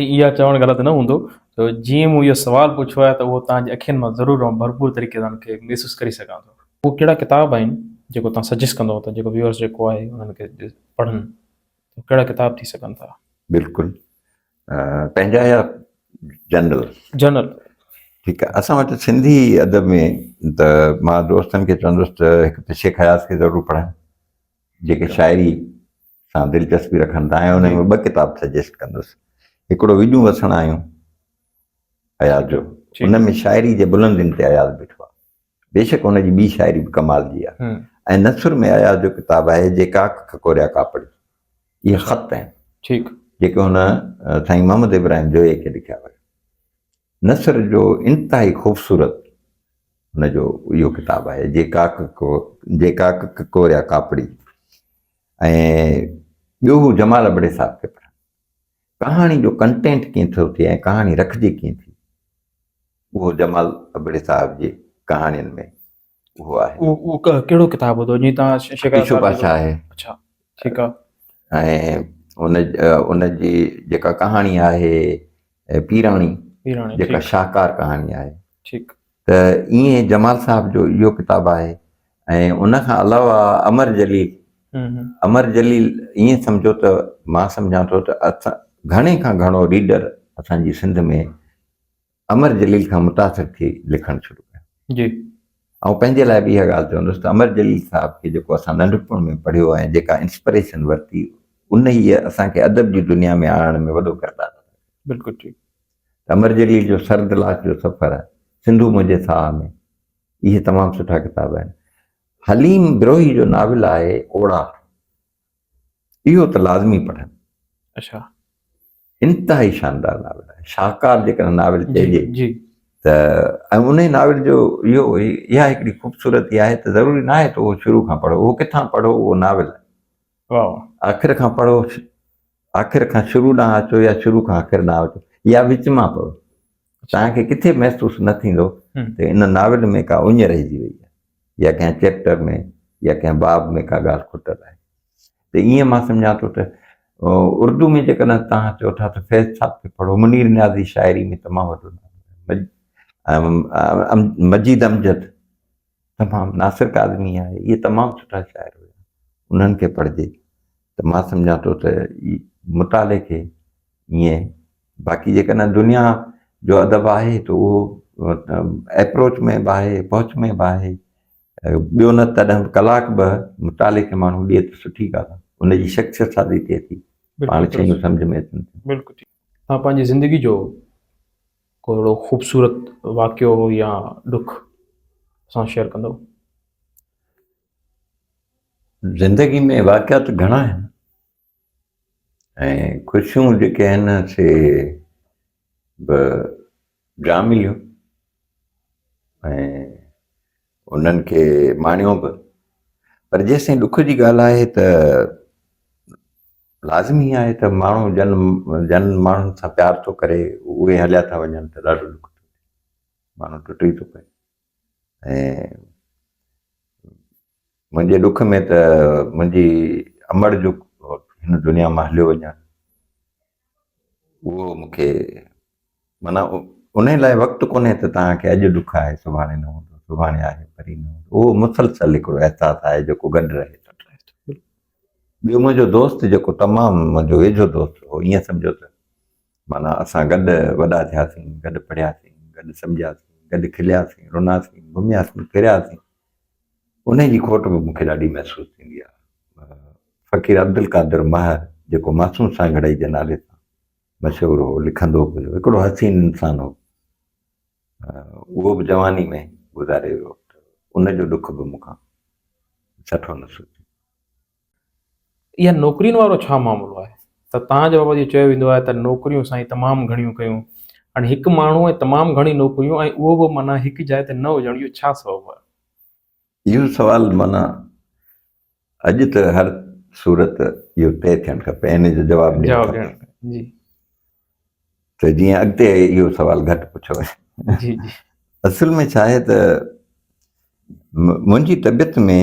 ۽ اها چوڻ غلط نه هوندو جو جيئن مون اهو سوال پڇيو آهي ته اهو توهان جي اکين مان ضرور ۽ ڀرپور طريقي سان ان کي محسوس ڪري سگهان ٿو. اهي ڪهڙا ڪتاب آهن جيڪو توهان سجيسٽ ڪندو ته جيڪو ويورز جيڪو آهي انهن کي پڙهن ته ڪهڙا ڪتاب ٿي سگهن ٿا؟ بلڪل پنهنجا يا جنرل؟ جنرل. ٺيڪ آهي اسان وٽ سنڌي ادب ۾ ته مان دوستن کي چوندس ته هڪ ته شيخ اياز کي ضرور پڙهن جيڪي شاعري سان دلچسپي رکن ٿا ۽ انهن ۾ ٻه ڪتاب سجيسٽ ڪندس هڪڙو وڄون وسڻ آيون اياز جو ان ۾ شاعري جي بلندين تي اياز بيٺو آهي بيشڪ ان جي ٻي شاعري به ڪمال جي آهي ۽ نثر ۾ اياز جو ڪتاب آهي جي ڪاڪ کڪوريا ڪاپڙي اهي خط آهن ٺيڪ جيڪي هن سائين محمد ابراهيم جويي کي لکيا ويا نثر جو انتهائي خوبصورت هن جو اهو ڪتاب آهي جي ڪاڪ جي ڪاڪ کڪوريا ڪاپڙي ۽ ٻيو هو جمال ابڙي صاحب کي پڙهن. ڪهاڻي جو ڪنٽينٽ ڪيئن ٿو ٿئي ۽ ڪهاڻي رکجي ڪيئن ٿي اهو جمال ابڙي صاحب جي ڪهاڻين ۾ اهو آهي. اهو ڪهڙو ڪتاب هوندو جيئن تان شڪار پيشو پاڇا آهي. اڇا ٺيڪ آ. ۽ ان ان جي جيڪا ڪهاڻي آهي پيراڻي پيراڻي جيڪا شاهڪار ڪهاڻي آهي. ٺيڪ. ته ائين جمال صاحب جو اهو ڪتاب آهي ۽ ان کان علاوه امر جليل امر جليل ائين سمجهو ته مان سمجهان ٿو ته گهڻي کان گهڻو ريڊر اسان جي سنڌ ۾ امر جليل کان متاثر ٿي لکڻ شروع جي آئون پنهنجي لاء به اها ڳالهه چوندس ته امر جليل صاحب کي جيڪو اسان ننڍپڻ ۾ پڙهيو ۽ جيڪا انسپريشن ورتي ان هي اسان کي ادب جي دنيا ۾ آڻڻ ۾ وڏو ڪردار بلڪل ٺيڪ ته امر جليل جو سرد لاش جو سفر، سنڌو منهنجي ساهه ۾، اهي تمام سٺا ڪتاب آهن. حليم بروهي جو ناول آهي اوڙا، اهو ته لازمي پڙهن. اڇا. انتهائي شاندار ناول آهي. شاهڪار جيڪڏهن ناول چئجي ته ۽ انهي ناول جو اهو اها هڪڙي خوبصورتي آهي ته ضروري ناهي ته اهو شروع کان پڙهو، اهو ڪٿان پڙهو اهو ناول آهي. واهه واهه. آخر کان پڙهو آخر کان شروع ڏانهن اچو يا شروع کان آخر ڏانهن اچو يا وچ مان پڙهو توهان کي ڪٿي محسوس نه ٿيندو ته ان ناول ۾ ڪا اڃ رهجي وئي آهي يا ڪنهن چيپٽر ۾ يا ڪنهن باب ۾ ڪا ڳالهه کٽل آهي ته ائين مان سمجهان ٿو ته اردو ۾ جيڪڏهن توهان چئو ٿا ته فيض صاحب کي پڙهو منير نياز جي شاعري ۾ تمام وڏو ناول مجيد امجد تمام ناصر ڪاظمي آهي اهي تمام سٺا شاعر هيا انهن کي پڙهجي ته مان سمجهان ٿو ته مطالعي کي ائين باقي جيڪڏهن دنيا جو ادب آهي ته اهو ايپروچ ۾ به آهي پهچ ۾ به آهي ٻيو نه تڏهن به ڪلاڪ به مطالعي کي ماڻهو ڏئي ته سٺي ڳالهه ان جي شخصيت سازي ٿئي ٿي پاڻ شيون سمجھ ۾ اچن ٿيون توهان پنهنجي زندگي جو ڪو اهڙو خوبصورت واقعو يا ڏک سان شيئر ڪندو زندگي ۾ واقعا ته گهڻا آهن ۽ خوشيون جيڪي آهن سي به جا مليون ۽ انهن کي ماڻيو به پر جيسين ڏک جي ڳالهه آهي ته لازمي آهي ته ماڻهو جن جن ماڻهن سان پيار ٿو ڪري اهي هليا ٿا وڃن ته ڏاڍو ڏک ٿو ماڻهو ٽٽي ٿو پئي ۽ منهنجي ڏک ۾ ته منهنجي امڙ جو هن دنيا مان هليو وڃڻ اهو مون کي معنيٰ ان لاء وقت ڪونهي ته توهان کي اڄ ڏک آهي سڀاڻي نه هوندو سڀاڻي آهي پري نه هوندو اهو مسلسل هڪڙو احساس آهي جيڪو گڏ رهي ٿو ٻيو منهنجو دوست جيڪو تمام منهنجو ويجهو دوست هو ائين سمجهو ته معنيٰ اسان گڏ وڏا ٿياسين گڏ پڙهياسين گڏ سمجهياسين گڏ کلياسين روناسين گهمياسين ڦرياسين انهيء جي کوٽ به مون کي ڏاڍي محسوس ٿيندي آهي. فقير عبدالقادر مهر جيڪو معصوم سانگهڙائي جي نالي سان مشهور هو، لکندو به هيو، هڪڙو حسين انسان هو. اهو به جواني ۾ گذاري ويو ته ان جو ڏک به مون کان سٺو نه سوچيو. اها نوڪرين وارو ڇا معاملو آهي ته تان جي بابت اهو چيو ويندو آهي ته نوڪريون سائين تمام گهڻيون ڪيون هاڻي هڪ ماڻهو ۽ تمام گهڻي نوڪريون ۽ اهو به معنيٰ هڪ جاء تي نه هجڻ اهو ڇا سبب آهي؟ اهو سوال معنيٰ اڄ ته هر صورت اهو طئي ٿيڻ کپي ۽ ان جو جواب ڏيڻ جواب کپي ڏيڻ جي ته جيئن اڳتي اهو سوال گهٽ پڇيو وڃي جي جي اصل ۾ ڇا آهي ته م- منهنجي طبيعت ۾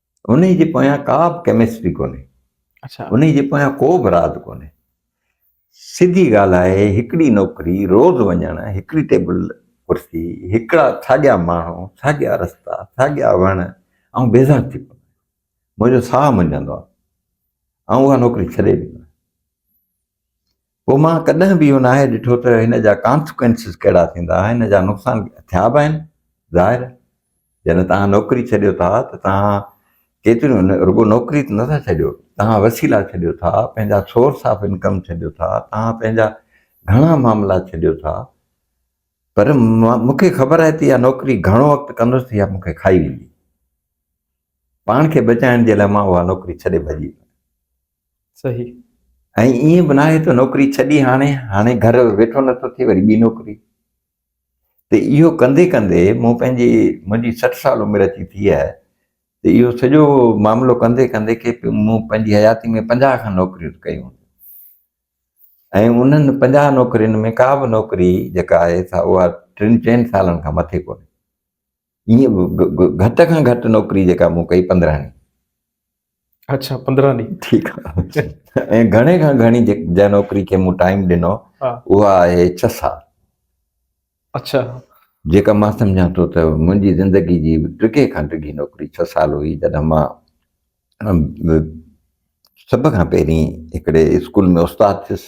انهي جي پويان ڪا به ڪيمسٽري ڪونهي اچا انهي جي پويان ڪو به راز ڪونهي سڌي ڳالهه آهي هڪڙي نوڪري روز وڃڻ هڪڙي ٽيبل ڪرسي هڪڙا ساڳيا ماڻهو ساڳيا رستا ساڳيا وڻ آئون بيزار ٿي پوندو آهيان منهنجو ساهه منجهندو آهي آئون اها نوڪري ڇڏي ڏيندو آهيان پوء مان ڪڏهن به اهو ناهي ڏٺو ته هن جا Consequences ڪهڙا ٿيندا، هن جا نقصان ٿيا به آهن، ظاهر جڏهن توهان نوڪري ڇڏيو ٿا ته توهان ڪيتريون رڳو نوڪري ته نٿا ڇڏيو، توهان وسيلا ڇڏيو ٿا، پنهنجا Source of Income ڇڏيو ٿا، توهان پنهنجا گهڻا معاملا ڇڏيو ٿا، پر مون کي خبر آهي ته اها نوڪري گهڻو وقت ڪندس ته اها مون کي کائي ويندي، پاڻ کي بچائڻ جي لاء مان اها نوڪري ڇڏي ڀڄي ويندس. صحيح. ۽ ائين به ناهي ته نوڪري ڇڏي هاڻي هاڻي گهر ويٺو نٿو ٿئي وري ٻي نوڪري ته اهو ڪندي ڪندي مون پنهنجي منهنجي سٺ سال عمر اچي ٿي آهي ته اهو سڄو معاملو ڪندي ڪندي کي مون پنهنجي حياتي ۾ پنجاهه کن نوڪريون ڪيون ۽ انهن پنجاهه نوڪرين ۾ ڪا به نوڪري جيڪا آهي سا اها ٽن چئن سالن کان مٿي ڪونهي ائين به گهٽ کان گهٽ نوڪري جيڪا مون ڪئي پندرهن ڏينهن اچھا پندرهن ڏينهن ٺيڪ آهي ۽ گهڻي کان گهڻي جنهن نوڪري کي مون ٽائيم ڏنو اها آهي ڇهه سال اچھا جيڪا مان سمجھان ٿو ته منهنجي زندگي جي ڊگهي کان ڊگهي نوڪري ڇهه سال هئي جڏهن مان سڀ کان پهرين هڪڙي اسڪول ۾ استاد ٿيس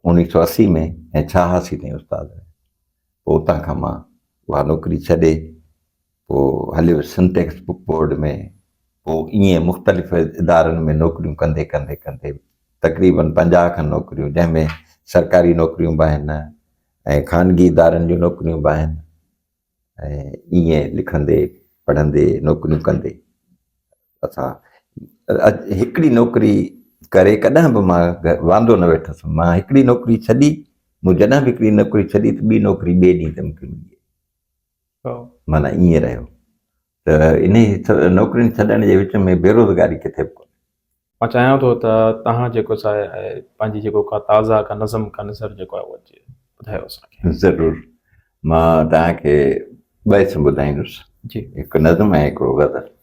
انيس سو اسي ۾ ۽ ڇهاسي تائين استاد پوء اتان کان مان اها نوڪري ڇڏي پوء هليو ويس سنٽيڪس بڪ بورڊ ۾ پوء ائين مختلف ادارن ۾ نوڪريون ڪندي ڪندي ڪندي تقريبن پنجاهه کن نوڪريون جنهن ۾ سرڪاري نوڪريون به آهن ۽ خانگي ادارن جون نوڪريون به آهن ۽ ائين لکندي پڙهندي نوڪريون ڪندي اٿا هڪڙي نوڪري ڪري ڪڏهن به مان واندو نه ويٺس مان هڪڙي نوڪري ڇڏي مون جڏهن به هڪڙي نوڪري ڇڏي ته ٻي نوڪري ٻئي ڏينهن تي مونکي ملي مانا ائين رهيو ته انهي نوڪرين ڇڏڻ جي وچ ۾ بيروزگاري ڪٿي به ڪونهي مان چاهيان ٿو ته توهان جيڪو ساهي پنهنجي جيڪو ڪا تازا ڪا نظم ڪا نظر جيڪو آهي اهو اچي ٻڌايو اسانکي ضرور مان توهان کي ٻه اسم ٻڌائيندس جي هڪ نظم ۽ هڪڙو غزل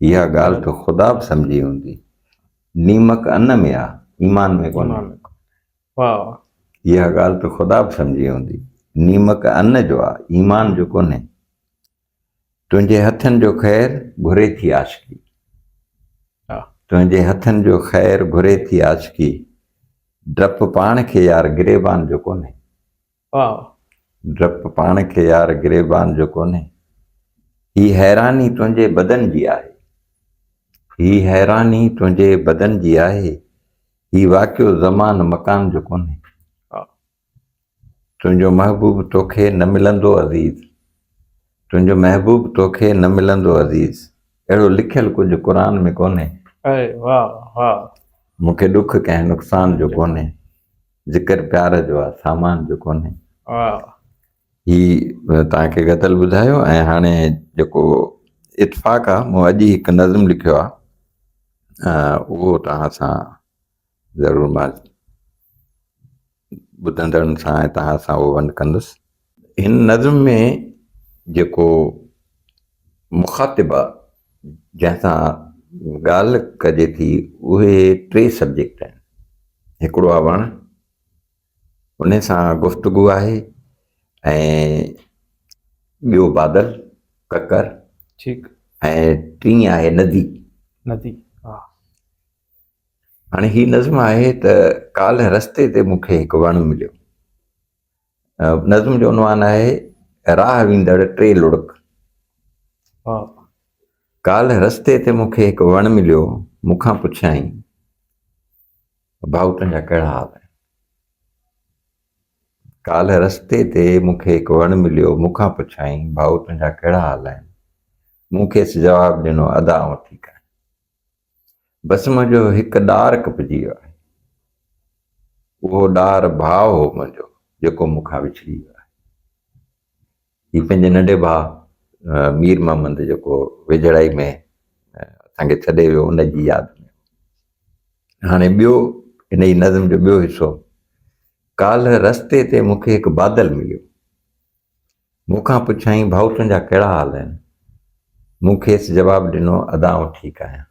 اها ڳالهه تو خدا به سمجهي هوندي. نيمڪ ان ۾ آ، ايمان ۾ ڪونهي. واهه واهه. اها ڳالهه تو خدا به سمجهي هوندي. نيمڪ ان جو آ، ايمان جو ڪونهي. تنهنجي هٿن جو خير گهري ٿي عاشقي. تنهنجي هٿن جو خير گهري ٿي عاشقي. ڊپ پاڻ کي يار گريبان جو ڪونهي. واهه. ڊپ پاڻ کي يار گريبان جو ڪونهي هي حيراني تنهنجي بدن جي آهي هي حيراني تنهنجي بدن جي آهي هي واقعو زمان مڪان جو ڪونهي تنهنجو محبوب توکي نه ملندو عزيز تنهنجو محبوب توکي نه ملندو عزيز اهڙو لکيل ڪجهه قرآن ۾ ڪونهي مون کي ڏک ڪنهن نقصان جو ڪونهي ذڪر پيار جو آ سامان جو ڪونهي هي توهان کي غزل ٻڌايو ۽ هاڻي جيڪو اتفاق آ مون اڄ هڪ نظم لکيو آ اهو توهان سان ضرور مان ٻڌندڙن سان ۽ توهان سان اهو ونڊ ڪندس هن نظم ۾ جيڪو مخاطب آهي جنهن سان ڳالهه ڪجي ٿي اهي ٽي سبجيڪٽ آهن هڪڙو آهي وڻ ان سان گفتگو آهي ۽ ٻيو بادل ڪڪر ٺيڪ ۽ ٽي آهي ندي ندي ها هاڻي هي نظم آهي ته ڪالهه رستي تي مونکي هڪ وڻ مليو نظم جو عنوان آهي راهه ويندڙ ٽي لڙڪ ڪالهه رستي تي مون کي هڪ وڻ مليو مون کان پڇيائين ڀائو تنهنجا ڪهڙا حال آهن ڪالهه رستي تي مون کي هڪ وڻ مليو مون کان پڇيائين ڀائو تنهنجا ڪهڙا حال آهن مون کيس جواب ڏنو ادا آئون ٺيڪ آهيان بسما جو هڪ ڏار ڪپجي ويو آهي. اهو ڏار ڀاء هو منهنجو جيڪو مون کان وڇڙي ويو آهي. هي پنهنجي ننڍي ڀاء مير محمد جيڪو ويجهڙائي ۾ اسان کي ڇڏي ويو ان جي ياد ۾ هاڻي ٻيو ان جي نظم جو ٻيو حصو ڪالهه رستي تي مون کي هڪ بادل مليو مون کان پڇيائين، ڀائو تنهنجا ڪهڙا حال آهن؟ مون کيس جواب ڏنو، ادا آئون ٺيڪ آهيان.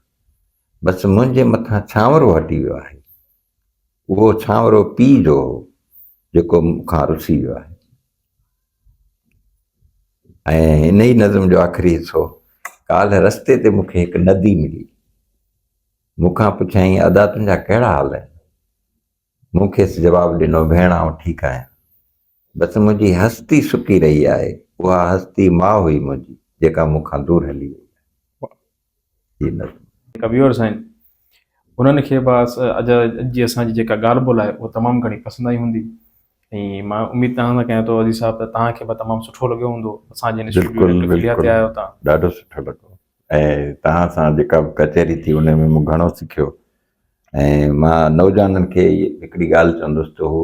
بس منهنجي مٿان ڇانورو هٽي ويو آهي. اهو ڇانورو پيء جو هو، جيڪو مون کان رسي ويو آهي. ۽ انهيء نظم جو آخري حصو، ڪالهه رستي تي مون کي هڪ ندي ملي. مون کان پڇيائين، ادا تنهنجا ڪهڙا حال آهن؟ مون کيس جواب ڏنو، ڀيڻ آئون ٺيڪ آهيان. بس منهنجي هستي سڪي رهي آهي. اها هستي ماء هئي منهنجي. جيڪا مون کان دور هلي وئي آهي. هي نظم. ڪبيور سائين انهن کي به اڄ جي اسان جي جيڪا ڳالهه ٻولهه آهي اها تمام گهڻي پسند آئي هوندي ۽ مان اميد توهان سان ڪيان ٿو عزيز صاحب ته توهان کي به تمام سٺو لڳيو هوندو اسان جي هن اسٽوڊيو ڊاڪٽر ڪليا تي آيو توهان. ڏاڍو سٺو لڳو ۽ توهان سان جيڪا به ڪچهري ٿي ان ۾ مون گهڻو سکيو ۽ مان نوجوانن کي هڪڙي ڳالهه چوندس ته هو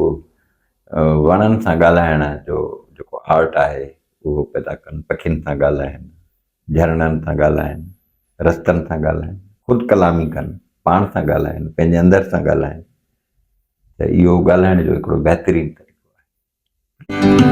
وڻن سان ڳالهائڻ جو جيڪو آرٽ آهي اهو پيدا ڪن پکين سان ڳالهائن جهرڻن سان ڳالهائن رستن سان ڳالهائن خود ڪلامي ڪن پاڻ سان ڳالهائن پنهنجي اندر سان ڳالهائن ته اهو ڳالهائڻ جو هڪڙو بهترين طريقو آهي